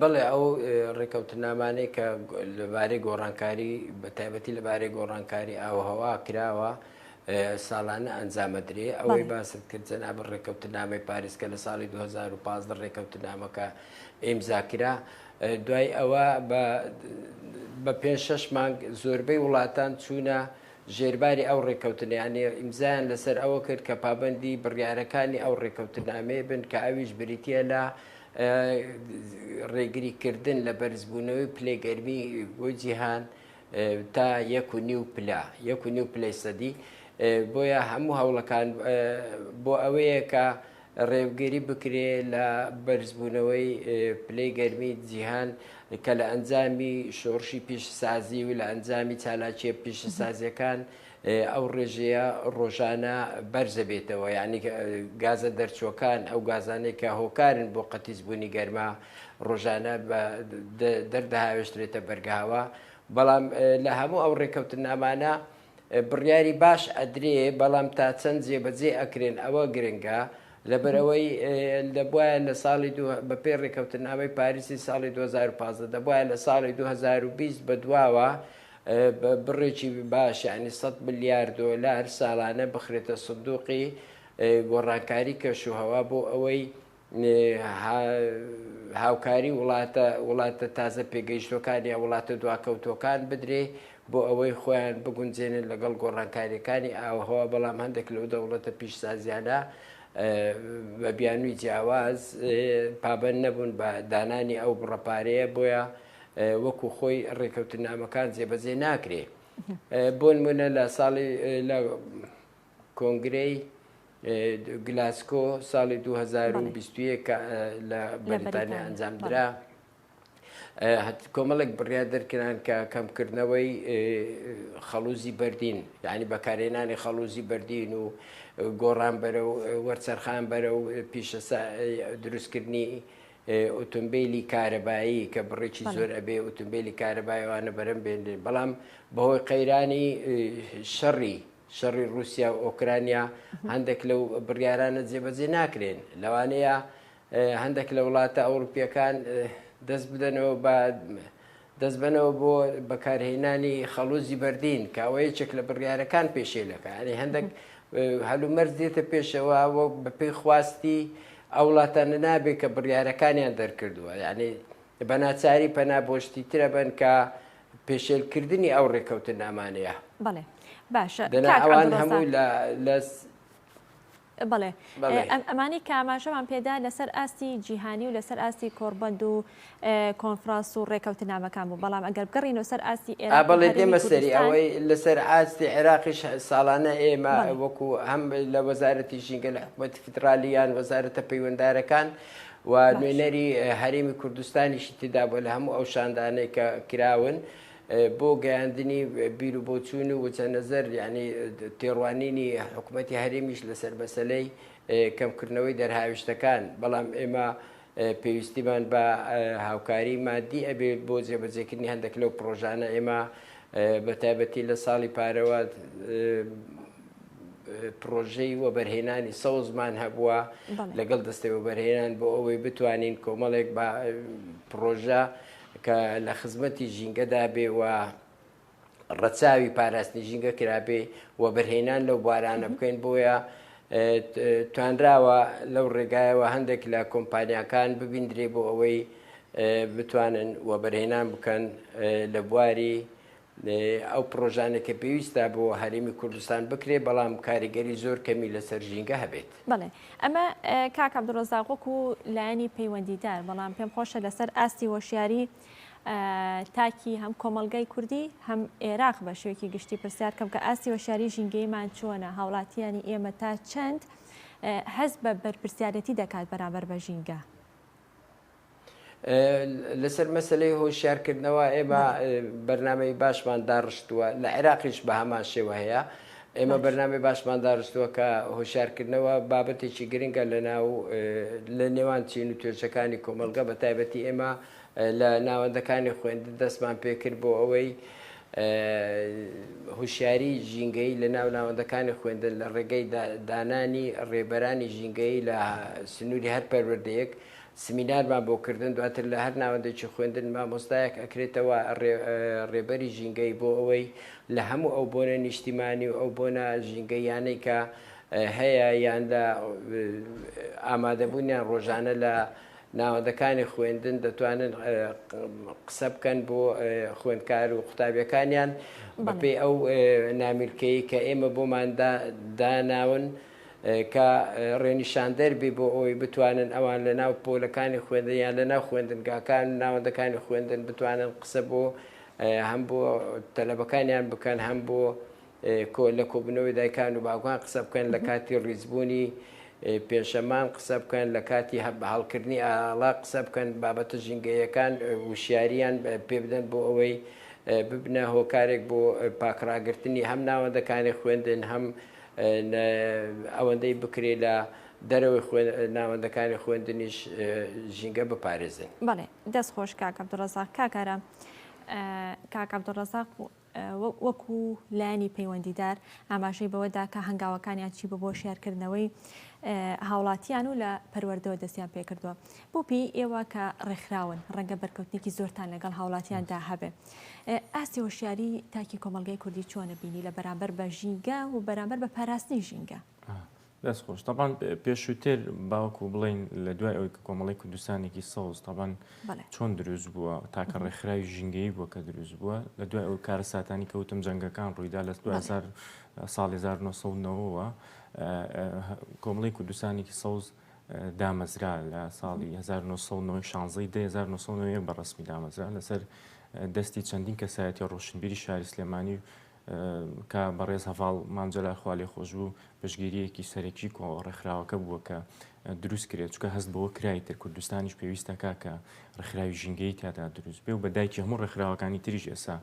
بەڵێ ئەو ڕێکەوتنامانەی کە لەبارەی گۆڕانکاری بە تایبەتی لەبارەی گۆڕانکاری ئاوهەوا کراوە ساڵانە ئەنجامەدرێ ئەوەی باست کرد جەناب ڕێکەوتنامەی پاریس کە لە ساڵی 2015 ڕێکەوتنامەکە ئیمزاکرا دوای ئەوە بە پێ شش مانگ زۆربەی وڵاتان چوونە ژێرباری ئەو ڕێککەوتنەیانەی ئیمزایان لەسەر ئەوە کرد کە پابەندی بڕیارەکانی ئەو ڕێککەوتنامەیە بن کە ئەویش بریتییە لە ڕێگریکردن لە بەرزبوونەوەی پلەی گەرمی بۆ جیهان تا یەک و نیو پلا یەک و نیو پلەی سەدی بۆیە هەموو هەوڵەکان بۆ ئەوەیە کە ڕێوگری بکرێ لە بەرزبوونەوەی پلەی گەرمی جیهان کە لە ئەنجامی شۆڕشی پیشەسازی و لە ئەنجامی چالاکیە پیشەسازیەکان ئەو ڕێژەیە ڕۆژانە بەرزەبێتەوە یعنی گازە دەرچووەکان ئەو گازانەی کە هۆکارن بۆ قەتیزبوونی گەرما ڕۆژانە دەردەهاوێشترێتە بەرگاوە بەڵام لە هەموو ئەو ڕێکەوتنامانە بڕیاری باش ئەدرێ بەڵام تا چەند جێبەجێ ئەکرێن ئەوە گرنگە لەبەرەوەی دەبواە لە ساڵی بەپێ ڕێککەوتنامەی پاریسی ساڵی 2015 دەبواە لە ساڵی 2020 بە دواوە بڕێکی باشیانی 100 ملیار دۆلار ساڵانە بخرێتە سندوقی گۆڕانکاری کەش و هەوا بۆ ئەوەی هاوکاری وڵاتە وڵاتە تازە پێگەیشتوەکان یا وڵاتە دواکەوتوەکان بدرێ بۆ ئەوەی خۆیان بگونجێنن لەگەڵ گۆڕانکاریەکانی ئاوهەوا بەڵام هەندێک لەو دەوڵەتە پیشسازیانە بە بیانووی جیاواز پابەن نەبوون بە دانانی ئەو بڕەپارەیە بۆیە وەکو خۆی ڕێکەوتنامەکان جێبەجێ ناکرێ بۆ نمونە لە ساڵی کۆنگرەی گلاسکۆ ساڵی 2021 کە لە بەریتانیا ئەنجام درا کۆمەڵێک بڕیا دەرکران کە کەمکردنەوەی خەڵوزی بەردین یعنی بەکارێنانی خەڵوزی بەردین و گۆڕان بەرە و وەرچەرخان بەرە و پیشە دروستکردنی ئۆتۆمبیلی کارەبایی کە بڕێکی زۆر ئەبێ ئۆتۆمبیلی کارەبایوانە بەرەم بێنێ بەڵام بەهۆی قەیرانی شەڕی شەڕی ڕووسیا و ئۆکرانیا هەندێک لەو بڕیارانە جێبەجێ ناکرێن لەوانەیە هەندێک لە وڵاتە ئەوروپیەکان دەست بدەنەوە بە دەست بنەوە بۆ بەکارهێنانی خەڵوزی بەردین کاوەیەکێک لە بڕیارەکان پێشێلەکە ئەنی هەندێک هەلومەرز دێتە پێشەوە وەک بەپی خواستی ئەو وڵاتانە نابێت کە بڕیارەکانیان دەرکردووە یعنی بەناچاری پەنا بۆشتی ترە بن کە پێشێلکردنی ئەو ڕێکەوتنامانەیە بەڵێ باشە بڵێ ئەمانی کاماژەمان پێدا لەسەر ئاستی جیهانی و لەسەر ئاستی کۆربەند و کۆنفراس و ڕێکەوتنامەکان بوو بەڵام ئەگەر بگەڕین و سەر ئاستی ئێرا بڵێ دێمە سەری ئەوەی لەسەر ئاستی عێراقیش ساڵانە ئێمە وەکو هەم لە وەزارەتی ژینگە لە حکوومەتی فدرالیان وەزارەتە پەیوەندارەکان و نوێنەری هەرێمی کوردستانیشی تێدا بووە لە هەموو ئەو شاندانەی کە کراون بۆ گەیاندنی بیر و بۆچوون و وچە نەزەر یعنی تێڕوانینی حکوومەتتی هەرێمیش لەسەر بەسەلەی کەمکردنەوەی دەرهاویشتەکان بەڵام ئێمە پێویستیمان بە هاوکاری مادی ئەبێت بۆ جێبەجێکردنی هەندێک لەو پرۆژانە ئێمە بە تایبەتی لە ساڵی پارەوە پرۆژەی وەبەرهێنانی سەوزمان هەبووە لەگەڵ دەستەوە بەرهێنان بۆ ئەوەی بتوانین کۆمەڵێک بە پرۆژە کە لە خزمەتی ژینگەدا بێوە ڕەچاوی پاراستنی ژینگە کرابێ و بەرهێنان لەو بارانە بکەین بۆیە توانراوە لەو ڕێگایەوە هەندێک لە کۆمپانیاکان ببیندرێ بۆ ئەوەی بتوانن وەبەرهێنان بکەن لە بواری ئەو پڕۆژانە کە پێویستە بۆ هەرێمی کوردستان بکرێت، بەڵام کاریگەری زۆر کەمی لەسەر ژینگە هەبێت. بەڵێ، ئەمە کاک عەبدولڕەزاق وەکو لایەنی پەیوەندیدار، بەڵام پێم خۆشە لەسەر ئاستی هۆشیاری تاکی هەم کۆمەڵگای کوردی هەم ئێراق بە شێوەیەکی گشتی پرسیار بکەم کە ئاستی هۆشیاری ژینگەیمان چۆنە؟ هاوڵاتییانی ئێمە تا چەند هەست بە بەرپرسیارێتی دەکات بەرامبەر بە ژینگە؟ لەسەر مەسلەی هۆشیار کردنەوە ئێمە بەرنمەی باشمان داڕشتووە لە عێراقیش بە هەمان شێوە هەیە ئێمە بەرنامی باشمان داڕستووە کە هۆشارکردنەوە بابەتێکی گرنگە لە ناو لە نێوان چین و توێژەکانی کۆمەلگە بە تایبەتی ئێمە لە ناوەندەکانی خوێندن دەستمان پێکرد بۆ ئەوەی هوشیاری ژینگەیی لە ناو ناوەندەکانی خوێندن لە ڕێگەی دانانی ڕێبەرانی ژینگەیی لە سنووری هەر پەروەردەیەک سمینارمان بۆ کردن دواتر لە هەر ناوەندێکی خوێندن مامۆستایەک ئەکرێتەوە ڕێبەری ژینگەی بۆ ئەوەی لە هەموو ئەو بۆنە نیشتیمانی و ئەو بۆنە ژینگەیانەی کە هەیە یان لە ئامادەبوونیان ڕۆژانە لە ناوەندەکانی خوێندن دەتوانن قسە بکەن بۆ خوێندکار و قوتابیەکانیان بەپی ئەو نامیلکەی کە ئێمە بۆماندا داناون کە ڕێنیشاندەربی بۆ ئەوی بتوانن ئەوان لە ناو پۆلەکانی خوێندنیان لە ناو خوێندنگاکان ناوەندەکانی خوێندن بتوانن قسە بۆ هەم بۆ تەلەبەکانیان بکەن هەم بۆ لە کۆبوونەوەی دایکان و باوکان قسە بکەن، لە کاتی ڕیزبوونی پێشەمان قسە بکەن، لە کاتی هەڵکردنی ئاڵا قسە بکەن، بابەتە ژینگەییەکان وشیارییان پێ بدەن بۆ ئەوەی ببنە هۆکارێک بۆ پاکڕاگرتنی هەم ناوەندەکانی خوێندن، هەم ئەوەندەی بکرێ لە دەرەوەی ناوەندەکانی خوێندنیش ژینگە بپارێزن. بەڵێ دەست خۆش کاک عبدالرزاق کاک ئارام کاک عبدالرزاق وەکو لایەنی پەیوەندیدار ئاماژەی بەوەدا کە هەنگاوەکانیان چی بوو بۆ شیارکردنەوەی هاوڵاتیان و لە پەروەردەوە دەستیان پێکردووە بۆ پێی ئێوە کە ڕێکخراون ڕەنگە بەرکەوتنێکی زۆرتان لەگەڵ هاوڵاتیاندا هەبێ ئاستی هۆشیاری تاکی کۆمەلگای کوردی چۆنە بینی لە بەرامبەر بە ژینگە و بەرامبەر بە پاراستنی ژینگە؟ دەست خۆش تەبان پێشووتر باوەکو بڵین لە دوای ئەوی کە کۆمەڵی کوردستانێکی سەوز تەبان چۆن دروست بووە تاکە ڕێکخراوی ژینگەی بووە کە دروست بووە لە دوای ئەو کارە ساتانی کەوتم جەنگەکان ڕوویدا لە دوزار ساڵی 1990ەوە کۆمەڵی کوردستانێکی سەوز دامەزرا لە ساڵی 1990 1990 بە ڕسمی دامەزرا لەسەر دەستی چەندین کەسایەتی ڕۆشنبیری شاری سلێمانی و کە بەڕێز هەڤاڵ مام جەلال خوا لێ خۆش بوو پشگیریەکی سەرەکی کۆ ڕێکخراوەکە بووە کە دروست کرێت چکە هەست بەوە کرای تر کوردستانیش پێویستەکە کە ڕخراوی ژینگەی تیادا دروست بێ و بە دایکی هەموو ڕێکخراوەکانی تریش ئێسا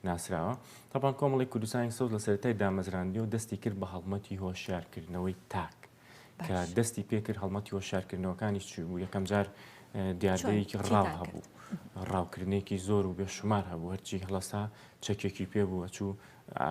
ناسراوە تاپان کۆمەڵی کوردستانی سەوز لە سەرای دامەزراندی و دەستی کرد بە هەڵمەتی هۆشیارکردنەوەی تاک کە دەستی پێکرد هەڵمەتی هۆشارکردنەوەکانی چی بوو یەکەم جار دیاردەیەکی ڕاو هەبوو ڕاوکردنێکی زۆر و بێشمار هەبوو هەرچی هەڵسا چەکێکی پێ بووە چوو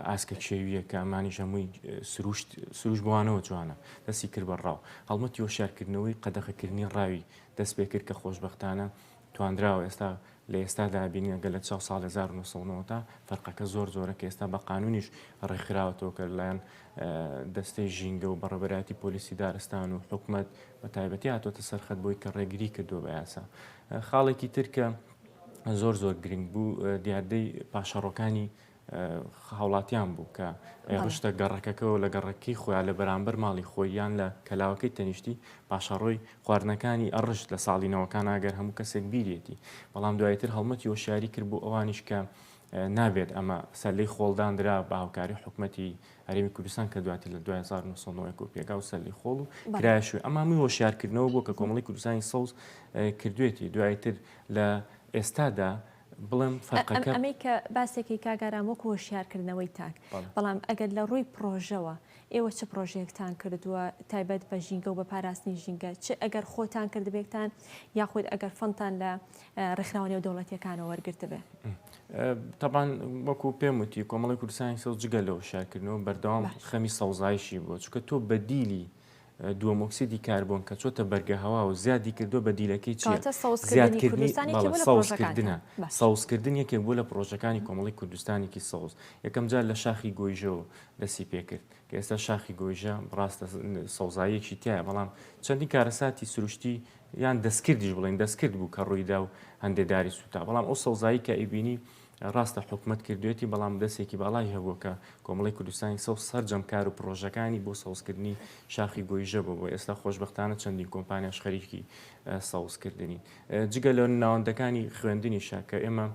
ئاسکە کێویە کە ئەمانی ژەمووی سروشت سروش بوانەوە جوانە دەستی کرد بە ڕاو هەڵمەتی هۆشارکردنەوەی قەدەخەکردنی ڕاوی دەست پێ کرد کە خۆشببختانە توانراوە ئێستا لە ئێستادا بینی گەلە چاو ساڵ 1990 تا فەرقەکە زۆر زۆرە کە ئێستا بە قانونیش ڕێکخراوەتەوە کە لەلایەن دەستەی ژینگە و بەڕێبەراتی پۆلیسی دارستان و حکومت بە تایبەتی هاتۆتە سەرخەت بۆی کە ڕێگری کردو بە یاسا خاڵێکی ترکە زۆر زۆر گرنگ بوو دیاردەی پاشەڕۆکانی هاوڵاتیان بوو کە ڕشتە گەڕەکەکەەوە لە گەڕەکەی خۆیان لە بەرامبەر ماڵی خۆیان لە کەلاوەکەی تەنیشتی پاشەڕۆی خواردنەکانی ئەڕشت لە ساڵی نەوەکان ئاگەر هەموو کەسێک بیرێتی بەڵام دوایتر هەڵمەتی وەشیاری کرد بۆ ئەوانیش کە نابێت ئەمە سەلەی خۆڵدان درا بە هاوکاری حکوومەتی هەرمی کوردستان کە دواتر لە 2009 و پێگا و سەلی خۆڵ و کرایشوی ئەمامی وەشارکردنەوە بۆ کە کۆمەڵی کوردستانی سەوز کردوێتی دوایتر لە ئێستادا بڵێم فەرقەکە. ئەمەی کە باسێکی کاک ئارام وەکو هۆشیارکردنەوەی تاک، بەڵام ئەگەر لە ڕووی پڕۆژەوە ئێوە چ پڕۆژەیەکتان کردووە تایبەت بە ژینگە و بە پاراستنی ژینگە چ ئەگەر خۆتان کردبێکتان یاخود ئەگەر فەندتان لە ڕێکخراوە نێودەوڵەتیەکانەوە وەرگرتبێ؟ تەبان وەکو پێم وتی کۆمەڵی کوردستانی سەوز جگە لە هۆشیارکردنەوە بەردەوام خەمی سەوزایشی بووە چکە تۆ بەدیلی دووەم ئۆکسیدی کاربۆن کە چۆتە بەرگە هەوا و زیادی کردووە بەدیلەکەی چییە؟ کاتە سەوزکردنی کوردستان یەکێک بووە لە پڕۆژەکانتان. بەڵێ سەوزکردنە. باشە. سەوزکردن یەکێک بووە لە پڕۆژەکانی کۆمەڵی کوردستانێکی سەوز. یەکەم جار لە شاخی گۆیژەوە دەستی پێ کرد کە ئێستا شاخی گۆیژە ڕاستە سەوزاییەکی تیایە بەڵام چەندین کارەساتی سروشتی یان دەستکردیش بڵێین دەستکرد بوو کە ڕووی دا و هەندێ داری سووتا بەڵام ئەو سەوزایی کە ئەیبینی ڕاستە حکومەت کردوێتی بەڵام دەسێکی باڵای هەبووە کە کۆمەڵی کوردستانی سەوز سەرجەم کار و پڕۆژەکانی بۆ سەوزکردنی شاخی گۆیژە بۆ بۆ ئێستا خۆشببختانە چەندین کۆمپانیاش خەریکی سەوزکردنی جگە لە ناوەندەکانی خوێندنیشە کە ئێمە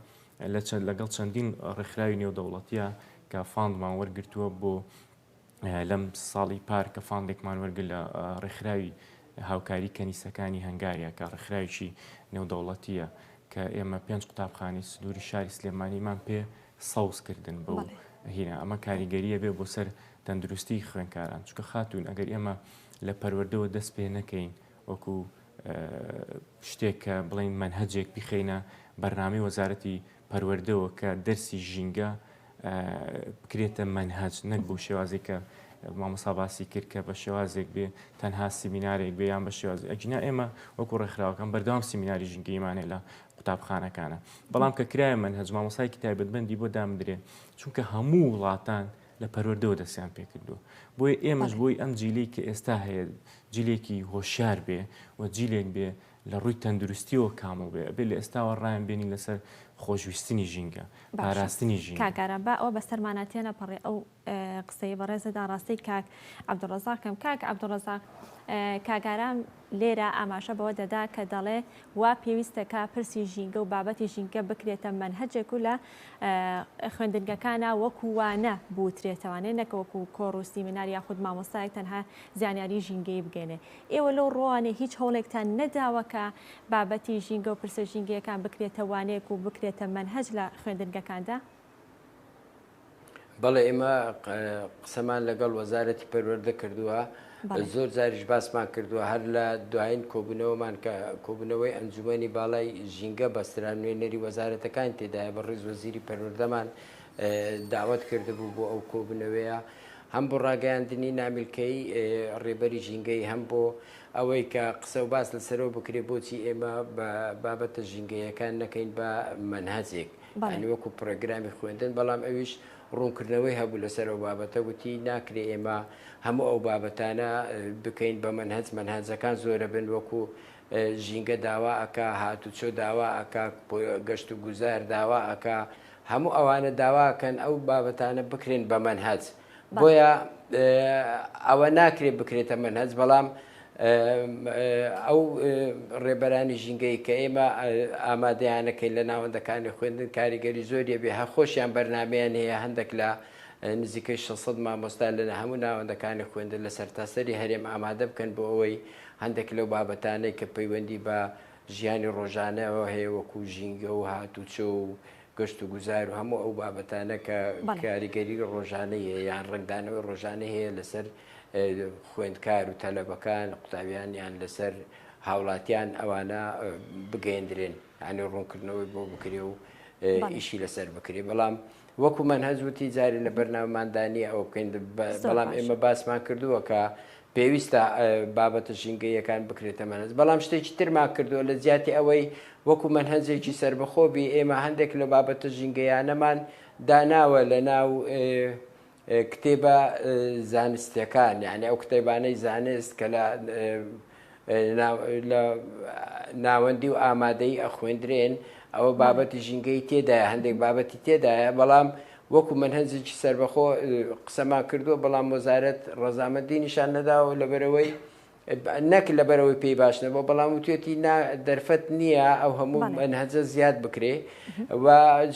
لە چەند لەگەڵ چەندین ڕێکخراوی نێودەوڵەتیە کە فاندمان وەرگتووە بۆ لەم ساڵی پار کە فاندێکمان وەرگر لە ڕێکخراوی هاوکاری کەنیسەکانی هەنگاریا کە ڕێکخراویی نێودەوڵەتیە کە ئێمە پێنج قوتابخانی سنووری شاری سلێمانیمان پێ سەوز کردن بۆ هینا ئەمە کاریگەریە بێ بۆ سەر تەندروستی خوێنکاران چکە خاتون ئەگەر ئێمە لە پەروەردەوە دەست پێ نەکەین وەکو شتێک کە بڵین منهجێک بخینە بەرنامی وەزارەتی پەروەردەوە کە دەرسی ژینگە بکرێتە مەنهەج نەک بۆ شێوازێک کە مامۆسا باسی کرد کە بە شێوازێک بێ تەنها سیمینارێک بێ یان بە شێوازی ئەگینا ئێمە وەکو ڕێکخراوەکان بەردەوام سیمیناری ژینگەیمانێ لە قوتابخانەکانە بەڵام کە کرایە مەنهەج مامۆسایکی تایبەتبندی بۆ دامدرێ چونکە هەموو وڵاتان لە پەروەردەوە دەستیان پێکردووە بۆیە ئێمەش بۆی ئەم جیلی کە ئێستا هەیە جلێکی هۆشار بێ و جیلێک بێ لە ڕووی تەندروستیەوە کامڵ بێ ئەبێ لە ئێستاوە ڕایان بێنین لەسەر خۆشویستنی ژینگە پاراستنی ژینگە. باشە کاک ئارام با ئەوە بەسەرمانا تێنەپەڕێ ئەو قسەی بەڕێزە داڕاستەی کاک عەبدولڕەزاق کەم کاک عەبدولڕەزاق کاک ئارام لێرە ئاماژە بەوە دەدا کە دەڵێ وا پێویستە کا پرسی ژینگە و بابەتی ژینگە بکرێتە مەنهەجێک و لە خوێندنگەکانە وەکو وانە بوترێتەوانێ نەکە وەکو کۆڕ و سیمینار یاخود مامۆستایەک تەنها زانیاری ژینگەی بگەێنێ ئێوە لەو ڕووانەی هیچ هەوڵێکتان نەداوە کە بابەتی ژینگە و پرسە ژینگەیەکان بکرێتە وانەیەک و بکرێتە مەنهەج لە خوێندنگەکاندا؟ بەڵێ ئێمە قسەمان لەگەڵ وەزارەتی پەروەردە کردووە زۆر جاریش باسمان کردووە هەر لە دوایین کۆبوونەوەمان کە کۆبوونەوەی ئەنجومی باڵای ژینگە بەسترا نوێنەری وەزارەتەکان تێدایە بە ڕیز وەزیری پەروەردەمان داوت کردبوو بۆ ئەو کۆبنەوەیە هەم بۆ ڕاگەیاندنی نامیلکەیی ڕێبەری ژینگەیی هەم بۆ ئەوەی کە قسە و باس لەسەرەوە بکرێت بۆچی ئێمە بە بابەتە ژینگەیەکان نەکەین بە مەنهەجێک ینی وەکو پرۆگرامی خوێندن بەڵام ئەویش ڕوونکردنەوەی هەبوو لەسەر ئەو بابەتە وتی ناکرێ ئێمە هەموو ئەو بابەتانە بکەین بە مەنهەج مەنهەجەکان زۆرە بن وەکو ژینگە داوا ئەک هاتوچۆ داوا ئەک گەشت و گوزار داوا ئەک هەموو ئەوانە داواکەن ئەو بابەتانە بکرێن بە مەنهەج بۆیە ئەوە ناکرێت بکرێتە مەنهەج بەڵام ئەو ڕێبەرانی ژینگەی کە ئێمە ئامادەیانەکەین لە ناوەندەکانی خوێندن کاریگەری زۆریە بێ هەخۆشیان بەرنمەیان هەیە هەندێک لە نزیکەی 600 مامۆستا لە هەموو ناوەندەکانی خوێندن لە سەرتاسەری هەرێم ئامادە بکەن بۆ ئەوەی هەندێک لەو بابەتانەی کە پەیوەندی بە ژیانی ڕۆژانە هەیە وەکو ژینگە و هاتوچۆ و گەشت و گوزار و هەموو ئەو بابەتانە کە کاریگەری ڕۆژانەی هەیە یان ڕەنگدانەوەی ڕۆژانەی هەیە لەسەر خوێندکار و تەلەبەکان قوتابیان یان لەسەر هاوڵاتیان ئەوانە بگەندرێن ئەنی ڕوونکردنەوەی بۆ بکرێ و ئیشی لەسەر بکرێ بەڵام وەکو من هەزوتی جارێ لە بەرنامەماندانی ئەو بکەین بەڵام ئێمە باسمان کردووە کە پێویستە بابەتە ژینگەییەکان بکرێتە مەنهەج، بەڵام شتێکی ترمان کردووە، لە جیاتی ئەوەی وەکو مەنهەجێکی سەربەخۆ بی، ئێمە هەندێک لە بابەتە ژینگەییانەمان داناوە لەناو کتێبە زانستییەکان، یەعنی ئەو کتێبانەی زانست کە لە لە ناوەندی و ئامادەی ئەخوێندرێن ئەوە بابەتی ژینگەی تێدایە هەندێک بابەتی تێدایە بەڵام وەکو من هەنجێکی سربەخۆ قسەمان کردووە بەڵام وەزارەت ڕەزامەندی نیشان نەداوە لەبەرەوەی نەک لەبەرەوەی پێی باش نەبوو بەڵام و توێتی دەرفەت نییە ئەو هەموو ئەنهەجە زیاد بکرێ و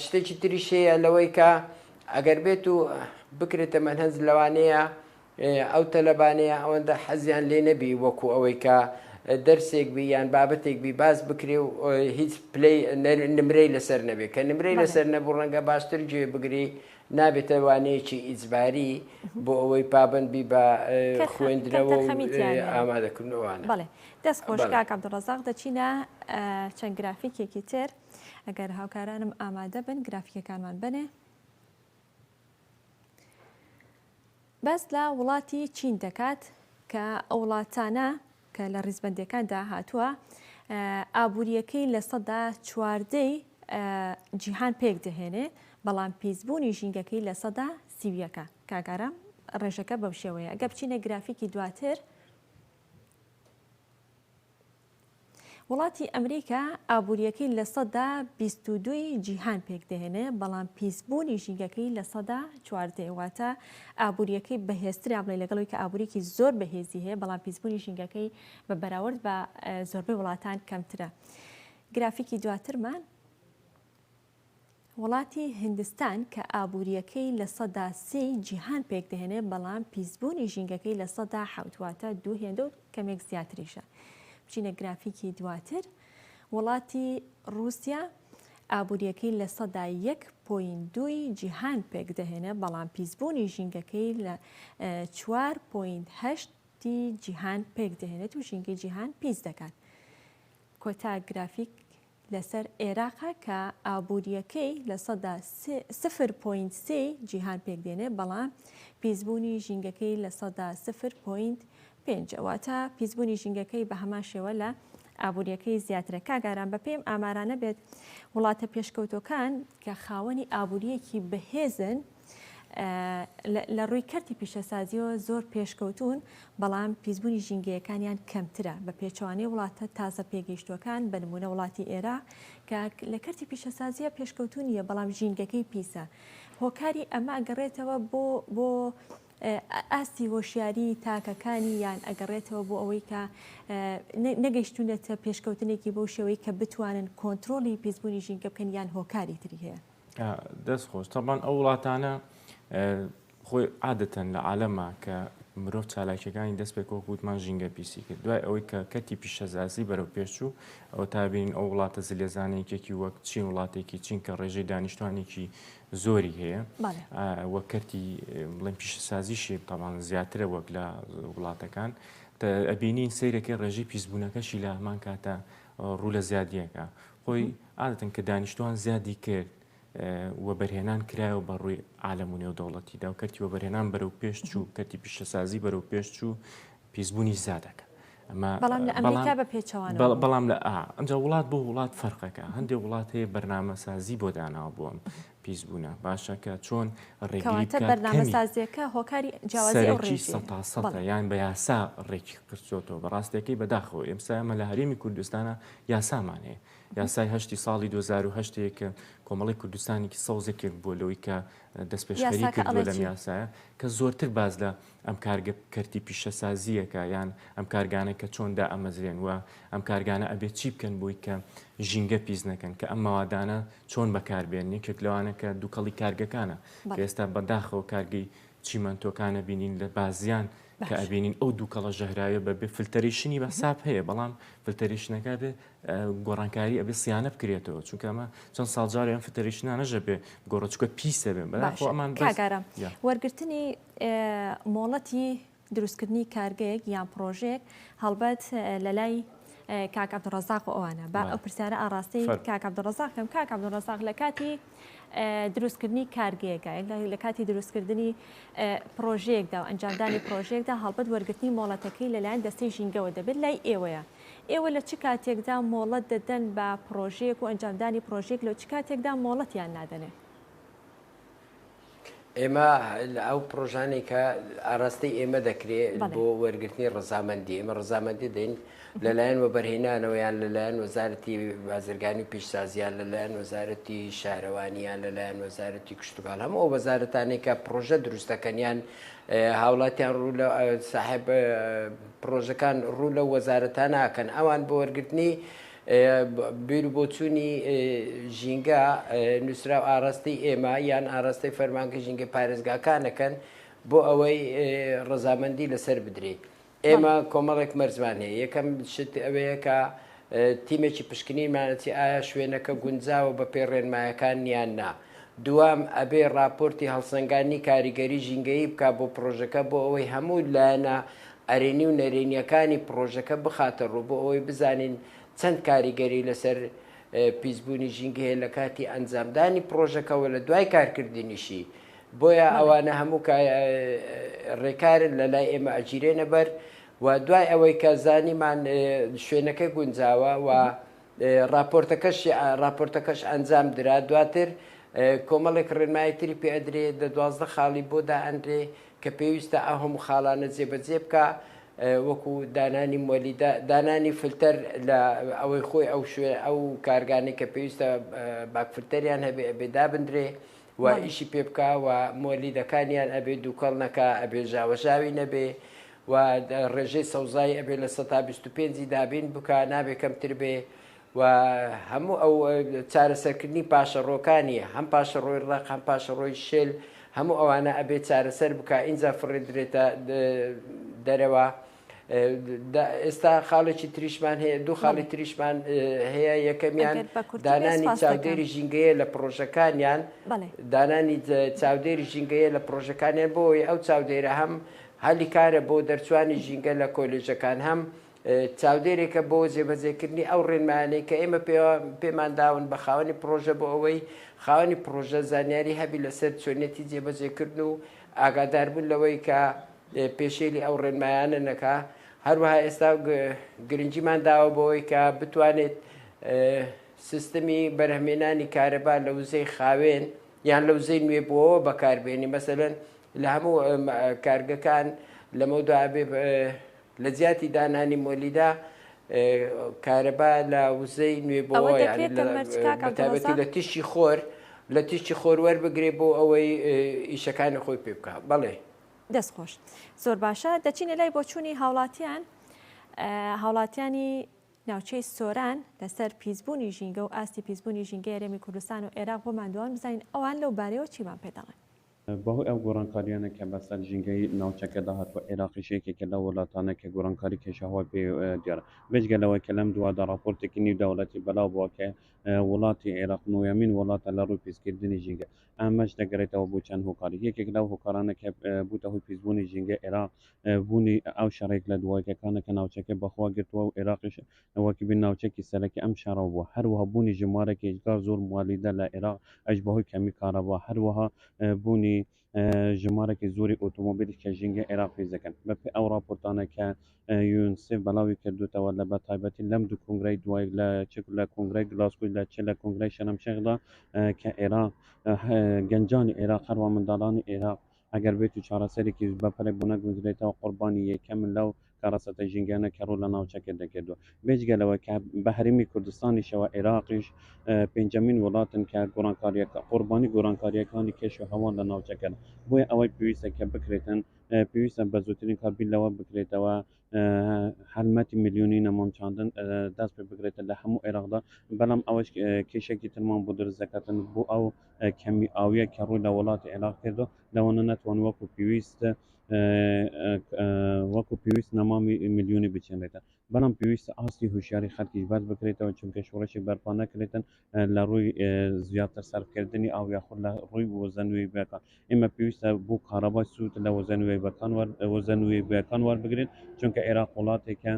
شتێکی تریشەیە لەوەی کە ئەگەر بێت و بکرێتە مەنهەنج لەوانەیە ئەو تەلەبانەیە ئەوەندە حەزیان لێ نەبی وەکو ئەوەی کە دەرسێک بی یان بابەتێک بی باس بکرێ و هیچ پلەی نمرەی لەسەر نەبێ کە نمرەی لەسەر نەبوو ڕەنگە باشتر گوێ بگری نابێتە وانەیەکی ئیجباری بۆ ئەوەی پابند بی بە خوێندنەوە ئامادەکردنەوەوانە بڵێ دەست خۆشکاک عبدڕزاق دەچینە چەند گرافیکێکی تر ئەگەر هاوکارانم ئامادە بن گرافیکەکانمان بنێ باس لە وڵاتی چین دەکات کە ئەو وڵاتانە کە لە ڕیزبەندیەکاندا هاتووە ئابووریەکەی لە سەدا چواردەی جیهان پێک دەهێنێ بەڵام پیسبوونی ژینگەکەی لە سەدا سیویەکە کاگارە ڕێژەکە بەو شێوەیە گە بچینە گرافیکی دواتر وڵاتی ئەمریکا ئابوورییەکەی لە سەدا بیست و دووی جیهان پێکدەهێنێ بەڵام پیسبوونی ژینگەکەی لە سەدا چواردەیە واتە ئابوورییەکەی بەهێزترا بڵێ لەگەڵەوەی کە ئابووریکی زۆر بەهێزی هەیە بەڵام پیسبوونی ژینگەکەی بە بەراورد بە زۆربەی وڵاتان کەمترە گرافیکی دواترمان وڵاتی هیندستان کە ئابوورییەکەی لە سەدا سی جیهان پێکدەهێنێت بەڵام پیسبوونی ژینگەکەی لە سەدا حەوت واتە دوو هێندە و کەمێک زیاتریشە بچینە گرافیکی دواتر وڵاتی ڕووسیا ئابووریەکەی لە سەدا یەک پۆین دووی جیهان پێکدەهێنە بەڵام پیسبوونی ژینگەکەی لە چوار پۆین هەشتی جیهان پێکدەهێنێت و ژینگەی جیهان پیس دەکات. کۆتا گرافیک لەسەر ئێراقە کە ئابوورییەکەی لە سەدا سفر پۆینت سێ ی جیهان پێکدێنێ بەڵام پیسبوونی ژینگەکەی لە سەدا سفر پۆینت پێنج ە واتە پیسبوونی ژینگەکەی بە هەمان شێوە لە ئابوورییەکەی زیاترە کاک ئارام بە پێی ئەم ئامارانە بێت وڵاتە پێشکەوتووەکان کە خاوەنی ئابوورییەکی بەهێزن لە ڕووی کەرتی پیشەسازیەوە زۆر پێشکەوتوون، بەڵام پیسبوونی ژینگەیەکانیان کەمترە، بە پێچەوانەی وڵاتە تازە پێگەیشتووەکان، بە نموونە وڵاتی ئێراق کە لە کەرتی پیشەسازیە پێشکەوتوو نییە، بەڵام ژینگەکەی پیسە. هۆکاری ئەمە ئەگەڕێتەوە بۆ بۆ ئاستی هۆشیاری تاکەکانی یان ئەگەڕێتەوە بۆ ئەوەی کە نەگەشتونەتە پێشکەوتنێکی بۆ شێوەی کە بتوانن کۆنتترۆلی پیسبوونی ژینگە بکەن یان هۆکاری تری هەیە. دەست خۆش تەبان ئەو وڵاتانە خۆی عادەتەن لە عالەما کە مرۆڤ چالاکیەکانی دەست پێک وەکووتمان ژینگە پیسی کرد دوای ئەوەی کە کەتی پیشەزازی بەرەو پێشوو ئەو تابین ئەو وڵاتە زلێزانێکێکی وەک چین وڵاتێکی چین کە ڕێژەی دانیشتوانێکی زۆری هەیە وە کەرتی بڵێن پیشەسازی شێب تاوان زیاترە وەک لە وڵاتەکان ئەبینین سیرەکەی ڕێژەی پیسبوونەکەشی لە هەمان کاتە ڕوو لە زیادیەکە خۆی عادەتەن کە دانیشتوان زیادی کرد وەبەرهێنان کرایەوە بە ڕووی عالم و نێودەوڵەتیدا و کەرتی وەبەرهێنان بەرەو پێش چوو کەتی پیشەسازی بەرەو پێش چوو پیسبوونی زیادەکە بەڵام لە ئەمجا وڵات بۆ وڵات فەرقەکە هەندێک وڵات هەیە بەرنمەسازی بۆ داناوە بووم پیس بونە باشە کە چۆن ڕێگری بکات بەرنامە سازیەکە هۆکاری جیاوازی ئەو ڕێژی سەتا سەتا یان بە یاسا ڕێکی قرچۆتەوە بە ڕاستەکەی بەداخەوە ئێمسا ئەمە لە هەرێمی کوردستانە یاسامان هەیە یاسای هەشتی ساڵی 2010 کە کۆمەڵی کوردستانێکی سەوزێکێک بووە لەوەی کە دەست پێشخەری کردووە لەم یاسایە کە زۆرتر باز لە ئەم کارگە کەرتی پیشەسازییەکە یان ئەم کارگانە کە چۆن دائەمەزرێن و ئەم کارگانە ئەبێ چی بکەن بۆی کە ژینگە پیس نەکەن کە ئەم مەوادانە چۆن بەکاربێن یەکێک لەوانە کە دوکەڵی کارگەکانە کە ئێستا بەداخەوە کارگەی چیمەنتۆکانە بینین لە بازیان کە ئەبینین ئەو دوکەڵە ژەهراویە بەبێ فلتەریشنی بە حساب هەیە بەڵام فلتەریشنەکە بێ گۆڕانکاری ئەبێ سیانە بکرێتەوە چونکە ئەمە چەند ساڵجارێن فلتەریشنانەژە بێ گۆڕچکە پیسە بێن بەڵام ئەمان کاگارە وەرگرتنی مۆڵەتی دروستکردنی کارگەیەک یان پڕۆژەیەک هەڵبەت لە لای کاک عبدالرزاق و ئەوانە با ئەو پرسیارە ئاراستەی کاک عبدالرزاق کەم کاک عبدالرزاق لە کاتی دروستکردنی کارگەیەکە لە کاتی دروستکردنی پرۆژەیەکدا و ئەنجامدانی پرۆژێکدا هەڵبەت وەرگرتنی مۆڵەتەکەی لەلایەن دەستەی ژینگەوە دەبێت لای ئێوەیە ئێوە لە چ کاتێکدا مۆڵەت دەدەن بە پرۆژەیەک و ئەنجامدانی پرۆژێک لە چ کاتێکدا مۆڵەتیان نادەنێ ئێمە ئەو پرۆژانێک کە ئاراستەی ئێمە دەکرێ بۆ وەرگرتنی ڕزامەندی ئێمە ڕزامەندی دەین لەلایەن وەبەرهێنانەوەیان لەلایەن وەزارەتی بازرگانی و پیشسازیان لەلایەن وەزارەتی شارەوانیان لەلایەن وەزارەتی کشتتوکان هەم ئەو وەزارەتانێک کە پرۆژە دروستەکەنیان هاوڵاتیان ڕوو لە ساحب پرۆژەکان ڕوو لە وەزارەتان ناکەن ئەوان بۆ وەرگرتنی بیروبۆچوونی ژینگە نووسراو ئاراستەی ئێمە یان ئاراستەی فەرمانگە ژینگە پارێزگاکانەکەن بۆ ئەوەی ڕزامەندی لەسەر بدرێت ئێمە کۆمەڵێک مەرزمان هەیە یەکەم شت ئەوەیە کە تیمێکی پشکنینمانەتی ئایا شوێنەکە گونجاوە بە پێ ڕێنمایەکان نیان نا دوام ئەبێ راپۆرتی هەڵسەنگانی کاریگەری ژینگەیی بک بۆ پرۆژەکە بۆ ئەوەی هەموو لایەنە ئەرێنی و نەرێنییەکانی پڕۆژەکە بخاتەڕوو بۆ ئەوەی بزانین چەند کاریگەری لەسەر پیسبوونی ژینگە هەیە لە کاتی ئەنجامدانی پڕۆژەکە و لە دوای کارکردنیشی بۆیە ئەوانە هەموو ڕێکارن لە لای ئێمە ئەگیرێنە بەر و دوای ئەوەی کە زانیمان شوێنەکە گونجاوە و ڕاپۆرتەکەش ئەنجام درا، دواتر کۆمەڵێک ڕێنمایی تری پێ ئەدرێ، دە دوازدە خاڵی بۆ دا ئەنرێ کە پێویستە ئەو هەموو خاڵانە جێ بە جێ بکا، وەکو دانانی مۆلیدە، دانانی فلتەر لە ئەوەی خۆی ئەو شوێن ئەو کارگانەی کە پێویستە باک فلتەریان هەبێ ئەبێ دابندرێ و ئیشی پێ بکا و مۆلیدەکانیان ئەبێ دووکەڵ نەکا، ئەبێ ژاوە ژاوی نەبێ و ڕێژەی سەوزایی ئەبێ لە سەتا بیست و پێنجی دابین بکا نابێ کەمتر بێ و هەموو ئەو چارەسەرکردنی پاشەڕۆکانی هەم پاشەڕۆی ڕق هەم پاشەڕۆی شل هەموو ئەوانە ئەبێ چارەسەر بکە ئینجا فڕێدرێتە دەرەوە ئێستا خاڵێکی تریشمان هەیە دوو خاڵی تریشمان هەیە یەکەمیان دانانی چاودێری ژینگەیە لە پرۆژەکانیان دانانی چاودێری ژینگەیە لە پرۆژەکانیان بۆی ئەو چاودێرە هەم هەلی کارە بۆ دەرچوانی ژینگە لە کۆلێژەکان هەم چاودێرێکە بۆ جێبەجێکردنی ئەو ڕێنمایانەی کە ئێمە پێمان داون بە خاوەنی پڕۆژە بۆ ئەوەی خاوەنی پڕۆژە زانیاری هەبی لەسەر چۆنیەتی جێبەجێکردن و ئاگاداربوون لەوەی کە پێشێلی ئەو ڕێنمایانە نەکا هەروەها ئێستا گرنگیمان داوە بۆەوەی کە بتوانێت سیستمی بەرهمێنانی کارەبا لە وزەی خاوێن یان لە وزەی نوێبووەوە بەکاربێنی مەسەن لە هەموو کارگەکان لەمەودا ئەبێ لە جیاتی دانانی مۆلیدا کارەبا لە وزەی نوێبەوەتابەتی لە تیشی خۆر لە تیشی خۆر وەربگرێ بۆ ئەوەی ئیشەکانی خۆی پێ بکە بەڵێ دەستخۆش زۆر باشە دەچینە لای بۆچوونی هاوڵاتیان هاوڵاتیانی ناوچەی سۆران لەسەر پیسبوونی ژینگە و ئاستی پیسبوونی ژینگە یارێمی کوردستان و عێراق بۆ مادووان بزانین ئەوان لەو بارەوە چیمان پێداڵێن بەهۆی ئەو گۆڕانکارییانە کە بەسەر ژینگەی ناوچەکەدا هاتووە، عێراقیش یەکێکە لەو وڵاتانە کە گۆڕانکاری کەشوهەوا پێی دیارە. بێجگە لەوەی کە لەم دوایدا ڕاپۆرتێکی نیودەوڵەتی بەلاوبووە کە وڵاتی عێراق نۆیەمین وڵاتە لە ڕووی پیسکردنی ژینگە، ئەمەش دەگەرێتەوە بۆ چەند هۆکارێک. یەکێک لەو هۆکارانە کە بووتە هۆی پیسبوونی ژینگەی عێراق، بوونی ئەو شەڕ یەک لە دوایەکەکانە کە ناوچەکە بەخۆوە گرتووە و عێراقیش ئەوە کە بێ ناوچەکی سەرەکی ئەم شارە بووە، هەروەها بوونی ژمارەیەک هێجگار زۆر موالیدە لە عێراق، ئەویش بەهۆی کەمی کارەبا، هەروەها بوونی ژمارەیەکی زۆری ئۆتۆمۆبیلیش کە ژینگەی عێراق پیس دەکەن. بەپێی ئەو راپۆرتانەی کە یونسێف بەڵاوی کردووتەوە لە بەتایبەتی لەم دوو کۆنگرەی دوای لە چ لە کۆنگرەی گلاسکۆی لە چ لە کۆنگرەی شەرمشێخدا کە عێراق گەنجانی عێراق هەروەها منداڵانی عێراق ئەگەر بێت و چارەسەرێکیش بە پەلە گۆنەگونجرێتەوە، قوربانی یەکەمن لەو کارەساتە ژینگەیانە کە ڕوو لە ناوچەکە دەکردووە. بێجگە لەوە کە بە هەرێمی کوردستانیشەوە، عێراقیش پێنجەمین وڵاتن کە قوربانی گۆرانکارییەکانی کەش و هەوا لە ناوچەکەن. بۆیە ئەوەی پێویستە کە بکرێتن، پێویستە بە زووترین کات بیر لەوە بکرێتەوە هەلمەتی ملیۆنی نەمام چاندن دەست پێ بگرێتە لە هەموو عێراقدا بەڵام ئەوەش کێشێکی ترمان بۆ دروست دەکاتن بۆ ئەو کەمی ئاویە کە ڕووی لە وڵاتی عێراق کردو لەوانە ناتوان وەکو پێویست وەکو پێویست نەمامی ملیۆنی بچێنێتە بەڵام پێویستە ئاستی هوشیاری خەلکیش بەرز بکرێتەوە چونکە شۆڕشی بەرپا نەکرێتن لە ڕووی زیاتر سەرفکردنی ئاو یاخود لە ڕووی وزە نوێبووەکان ئێمە پێویستە بۆ کارەبای سوود لە وزە نوێبووەکان وزە نوێبووەکان وەربگرێت چونکە عێراق وڵاتێکە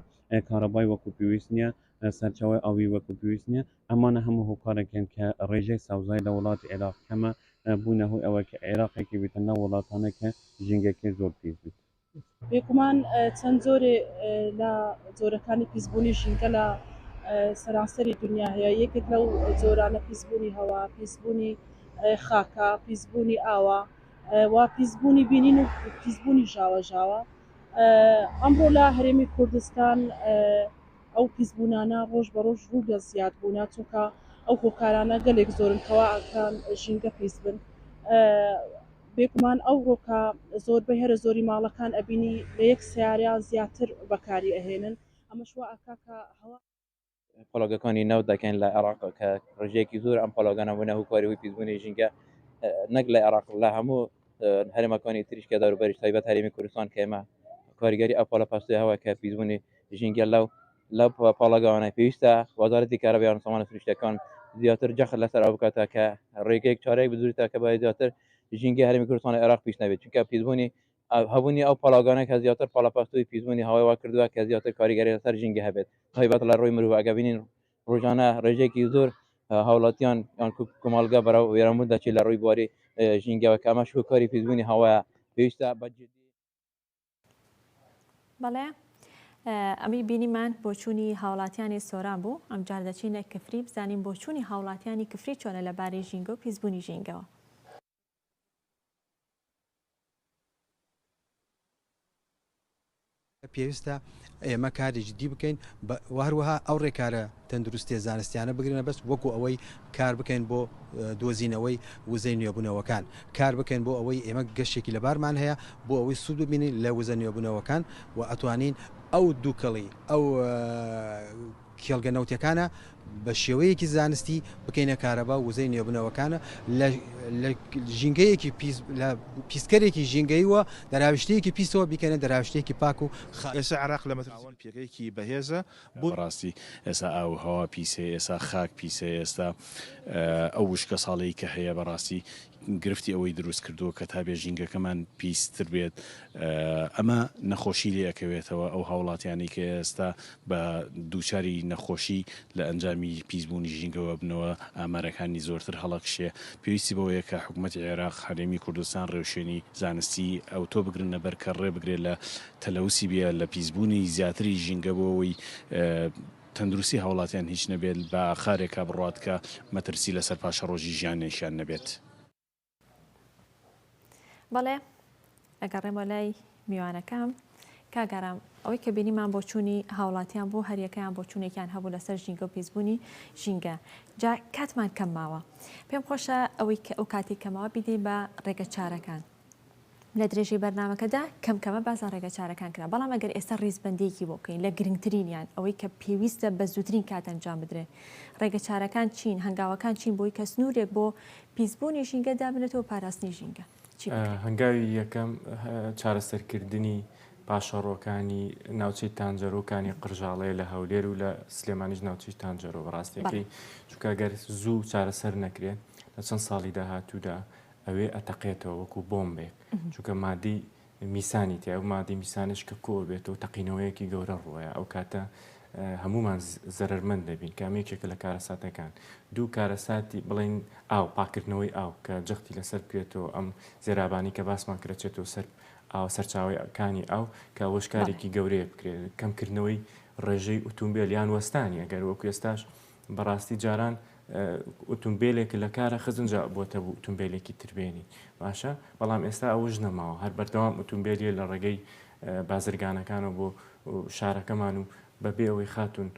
کارەبای وەکو پێویست نییە سەرچاوی ئاوی وەکو پێویست نییە ئەمانە هەموو هۆکارێکن کە ڕێژەی سەوزای لە وڵاتی عێراق کەمە بوونە هۆی ئەوە کە عێراقێکی بێتە ناو وڵاتانە کە ژینگەکەی زۆر پیس بیت بێگومان چەند جۆرێ لە جۆرەکانی پیسبوونی ژینگە لە سەرانسەری دونیا هەیە، یەکێک لەو جۆرانە پیسبوونی هەوا، پیسبوونی خاکە، پیسبوونی ئاوە و پیسبوونی بینین و پیسبوونی ژاوەژاوە. ئەمڕۆ لە هەرێمی کوردستان ئەو پیسبوونانە ڕۆژ بە ڕۆژ ڕوو لە زیادبوونە، چونکە ئەو هۆکارانە گەلێک زۆرن کەوا ئەکەن ژینگە پیس بن. بێگومان ئەوڕۆکە زۆربەی هەرە زۆری ماڵەکان ئەبینی لە یەک سەیارە یان زیاتر بەکاری ئەهێنن ئەمەش وا ئەکا کە هەوا. پڵۆگەکانی نەوت دەکەن لە عێڕاق کە ڕژەیەکی زۆر ئەم پڵۆگانە بونە هوکاری هۆی پیسبونی ژینگە نەک لە عێڕاق لە هەمو هەرێمەکانی تریش کە دەوروبەریش تایبەت هەرێمی کوردستان کە ئێمە کاریگەری ئەو پڵە پەستۆیە هەوە کە پیسبونی ژینگە لەو لەو پاڵاگاوانە پێویستە وەزارەتی کارەبا یان سامانە سروشتییەکان زیاتر جەخت لەسەر ئەوە بکات کە ڕێگەیەک چارەیەک بدوریتە کە بە زیاتر ژینگەی هەرێمی کوردستان لە عێراق پیس نەبێت چونکە پیسبوونی هەبوونی ئەو پاڵاوگانە کە زیاتر پاڵەپەستوی پیسبوونی هەوای وا کردووە کە زیاتر کاریگەری لەسەر ژینگە هەبێت تایبەت لە ڕووی مرۆڤ ئەگە بینین ڕۆژانە ڕێژەیەکی زۆر هاوڵاتیان یان کۆمەڵگە بەرەو وێرانبوون دەچێت لە ڕووی بواری ژینگەوە کە ئەمەش هۆکاری پیسبوونی هەوایە پێویستە بەجددی بەڵێ ئەمی بینیمان بۆچوونی هاوڵاتیانی سۆران بوو ئەمجار دەچینە کفری بزانین بۆچوونی هاوڵاتیانی کفری چۆنە لە باری ژینگە و پیسبوونی ژینگەوە پێویستە ئێمە کاری جدی بکەین و هەروەها ئەو ڕێکارە تەندروستییە زانستییانە بگرنە بەست وەکو ئەوەی کار بکەین بۆ دۆزینەوەی وزەی نوێبوونەوەکان، کار بکەین بۆ ئەوەی ئێمە گەشێکی لەبارمان هەیە بۆ ئەوەی سوود ببینین لە وزە نوێبوونەوەکان و ئەتوانین ئەو دووکەڵی ئەو کێڵگە نەوتیەکانە بە شێوەیەکی زانستی بکەینە کارەبا وزەی نێوبنەوەکانە لە لە ژینگەیەکی لە پیسکەرێکی ژینگەی و دەراویشتەیەکی پیسەوە بیکەنە دەراوشتێکی پاک و ئێسا عێراق لە مەترسیەوە پێگەیەکی بەهێزە بۆ. بەڕاستی ئێسا ئاو و هەوا پیسەیە ئێسا خاک پیسەیە ئێستا ئەو وشکە ساڵەی کە هەیە بەڕاستی. گرفتی ئەوەی دروست کردووە کە تا بێ ژینگەکەمان پیستر بێت ئەمە نەخۆشی لێ ئەکەوێتەوە ئەو هاوڵاتیانی کە ئێستا بە دووچاری نەخۆشی لە ئەنجامی پیسبوونی ژینگەوە بنەوە ئامارەکانی زۆرتر هەڵەکشێ پێویستی بەوەیە کە حکومەتی عێراق هەرێمی کوردستان ڕێوشوێنی زانستی ئەوتۆ بگرنە بەر کە ڕێ بگرێ لە تەلەوسی بێ لە پیسبوونی زیاتری ژینگە بۆ ئەوەی تەندروستی هاوڵاتیان هیچ نەبێت بە خارێکا بڕوات کە مەترسی لەسەر پاشەڕۆژی ژیانێکیان نەبێت. بەڵێ ئەگەڕێمە لای میوانەکەم کاک ئارام ئەوەی کە بینیمان بۆچوونی هاوڵاتیان بوو هەریەکەیان بۆچوونێکیان هەبوو لەسەر ژینگە و پیسبوونی ژینگە جا کاتمان کەم ماوە پێم خۆشە ئەوەی کە ئەو کاتی کەمەوە بیدەین بە ڕێگە چارەکان لە درێژەی بەرنامەکەدا کەم کەمە باس لە ڕێگە چارەکان کرا، بەڵام ئەگەر ئێستا ڕیزبەندییەکی بۆ بکەین لە گرنگترینیان ئەوەی کە پێویستە بە زووترین کات ئەنجام بدرێت ڕێگە چارەکان چین؟ هەنگاوەکان چین بۆی کە سنوورێک بۆ پیس بوونی ژینگە دابنرێتەوە پاراستنی ژینگە چی بکرێت؟ هەنگاوی یەکەم چارەسەر کردنی پاشەڕۆکانی ناوچەی تانجەرۆ و کانی قرژاڵەیە لە هەولێر و لە سلێمانیش ناوچەی تانجەرۆ بەڕاستیەکەی چونکە گەر زوو چارەسەر نەکرێت لە چەند ساڵی داهاتوودا ئەوێ ئەتەقێتەوە وەکو بۆمبێک چونکە مادەی میسانی تیا و مادەی میسانش کە کۆ بێت و تەقینەوەیەکی گەورە ڕووەیە ئەو کاتە هەمومان زەرمەند دەبین کامێکێکە لە کارەساتەکان دوو کارەساتی بڵین ئاو پاکردنەوەی ئاو کە جەختی لەسەر بکرێتەوە ئەم زێرابانی کە باسمان کرەچێتەوە سەر ئاوە سەرچاوەکانی ئاو کە وەشکارێکی گەورەیە بکرێت کەمکردنەوەی ڕێژەی ئوتومبیل یان وەستانی ئەگەر وەکو ئێستاش بەڕاستی جاران ئوتومبیلێک لە کارە خزن جا بۆتە بوو ئوتومبیلێکی تر بێنی باشە بەڵام ئێستا ئەوش نەماوە هەر بەردەوام ئوتومبیلیە لە ڕێگەی بازرگانەکانە بۆ شارەکەمان و بەبێ ئەوەی خاتون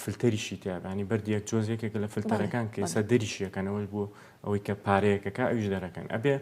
فلتەریشی تیابانی بەردیەک جۆزێکێک لە فلتەرەکان کەسە دەریشیەکەنەوەش بوو ئەوەی کە پارەیەکەکە ئەوش دەرەکەن ئەبێ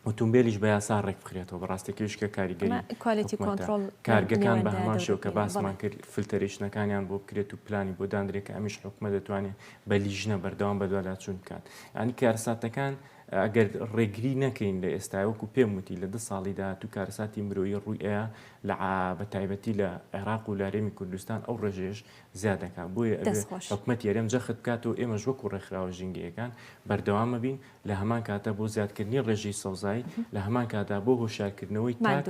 ئۆتومبێلیش بە یاسا ڕێک بخرێتەوە بە ڕاستێکیش کە کاریگەری ئەمە کوالێتی حکومەتە. کۆنترۆڵ کارگەکان بە لەوێندایە هەمان شێوە کە دەوتنی. باسمان بەڵێ. کرد فلتەرێشنەکانیان بۆ بکرێت و پلانی بۆ داندرێت کە ئەمیش حکومەت دەتوانێت بە لیژنە بەردەوام بەدواداچوون بکات یعنی کارەساتەکان ئەگەر ڕێگری نەکەین لە ئێستا وەکو پێم وتی لە دە ساڵی داهاتوو کارەساتی مرۆیی ڕووی ئەیا لە عا بە تایبەتی لە عێراق و لە هەرێمی کوردستان ئەو ڕێژەیەش زیاد دەکات بۆیە ئەبێ دەست خۆش. حکومەتی هەرێم جەخت بکاتەوە ئێمەش وەکو ڕێکخراوە ژینگەیەکان بەردەوامەبین لە هەمان کاتدا بۆ زیادکردنی ڕێژەی سەوزایی لە هەمان کاتدا بۆ هۆشارکردنەوەی تاک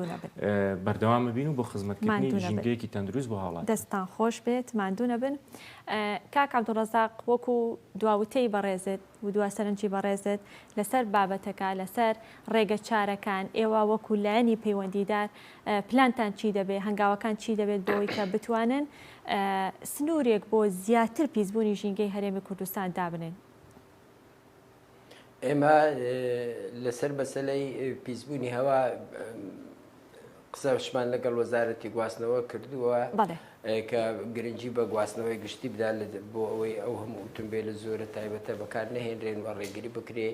بەردەوامە بین و بۆ خزمەتکردنی ژینگەیەکی تەندروست بۆ هاوڵات دەستان خۆش بێت مادوونە بن کاک عبدڕزاق وەکو دواوتەی بەڕێزت و دوا سەرنجی بەڕێزت لەسەر بابەتەکە لەسەر ڕێگە چارەکان ئێوە وەکو لایەنی پەیوەندیدار پلانتان چی دەبێت هەنگاوەکان چی دەبێت بۆی کە بتوانن سنوورێک بۆ زیاتر پیسبوونی ژینگەی هەرێمی کوردستان دابنێن ئێمە لەسەر مەسلەی پیسبوونی هەوا قسەشمان لەگەڵ وەزارەتی گواستنەوە کردووە کە گرنگجی بە گواستنەوەی گشتی بدا بۆ ئەوەی ئەو هەموو ئوتمبیل لە زۆرە تایبەتە بەکار نەهێنرێن و ڕێگری بکرێ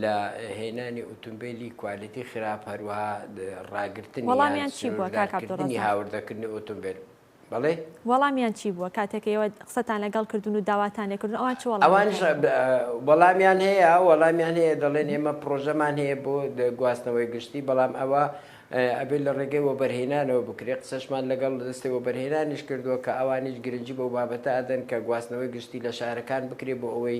لە هێنانی ئوتمبیلی کوالەتی خراپ هەروە ڕاگرتنی هاوردەکردنی ئۆتۆمبیل بەڵێ. وەڵامیان چی بووە کاتێک ئێوە قسەتان لەگەڵ کردوون و داواتان لێ کردوون ئەوان چ وەڵامێکیان داوە؟ ئەوانیش وەڵامیان هەیە، وەڵامیان هەیە دەڵێن ئێمە پڕۆژەمان هەیە بۆ گواستنەوەی گشتی بەڵام ئەوە ئەبێت لە ڕێگەی وەبەرهێنانەوە بکرێت، قسەشمان لەگەڵ دەستەی وەبەرهێنانیش کردووە کە ئەوانیش گرنگی بەو بابەتە ئەدەن کە گواستنەوەی گشتی لە شارەکان بکرێت بۆ ئەوەی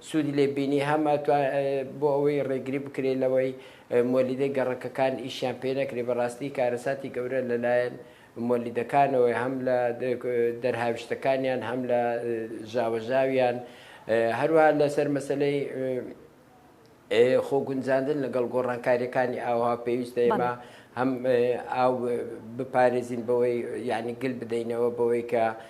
سوودی لێ بینی هەم ئەتوا بۆ ئەوەی ڕێگری بکرێ لەوەی مۆلیدەی گەڕەکەکان ئیشیان پێ نەکرێ بەڕاستی کارەساتی گەورە لەلایەن مۆلیدەکانەوەی هەم لە دەرهاویشتەکانیان هەم لە ژاوەژاویان هەروە لەسەر مەسلەی خۆگونجاندن لەگەڵ گۆڕانکاریەکانی ئاوها پێویستە ئێمە هەم ئاو بپارێزین بەوەی یعنی گل بدەینەوە بەوەی کە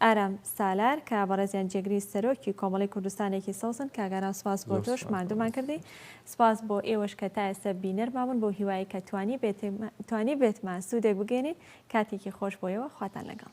ئارام سالار کاک بەڕێزیان جێگری سەرۆکی کۆمەڵەی کوردستانێکی سەوزن کاک ئارام سپاس بۆ تۆش ماندوومان کردی سپاس بۆ ئێوەش کە تا ئێستا بینەرمان بوون بەو هیوایەی کە توانیبێتمان سوودێک بگەێنین کاتێکی خۆش بۆ ئێوە خواتان لەگەڵ.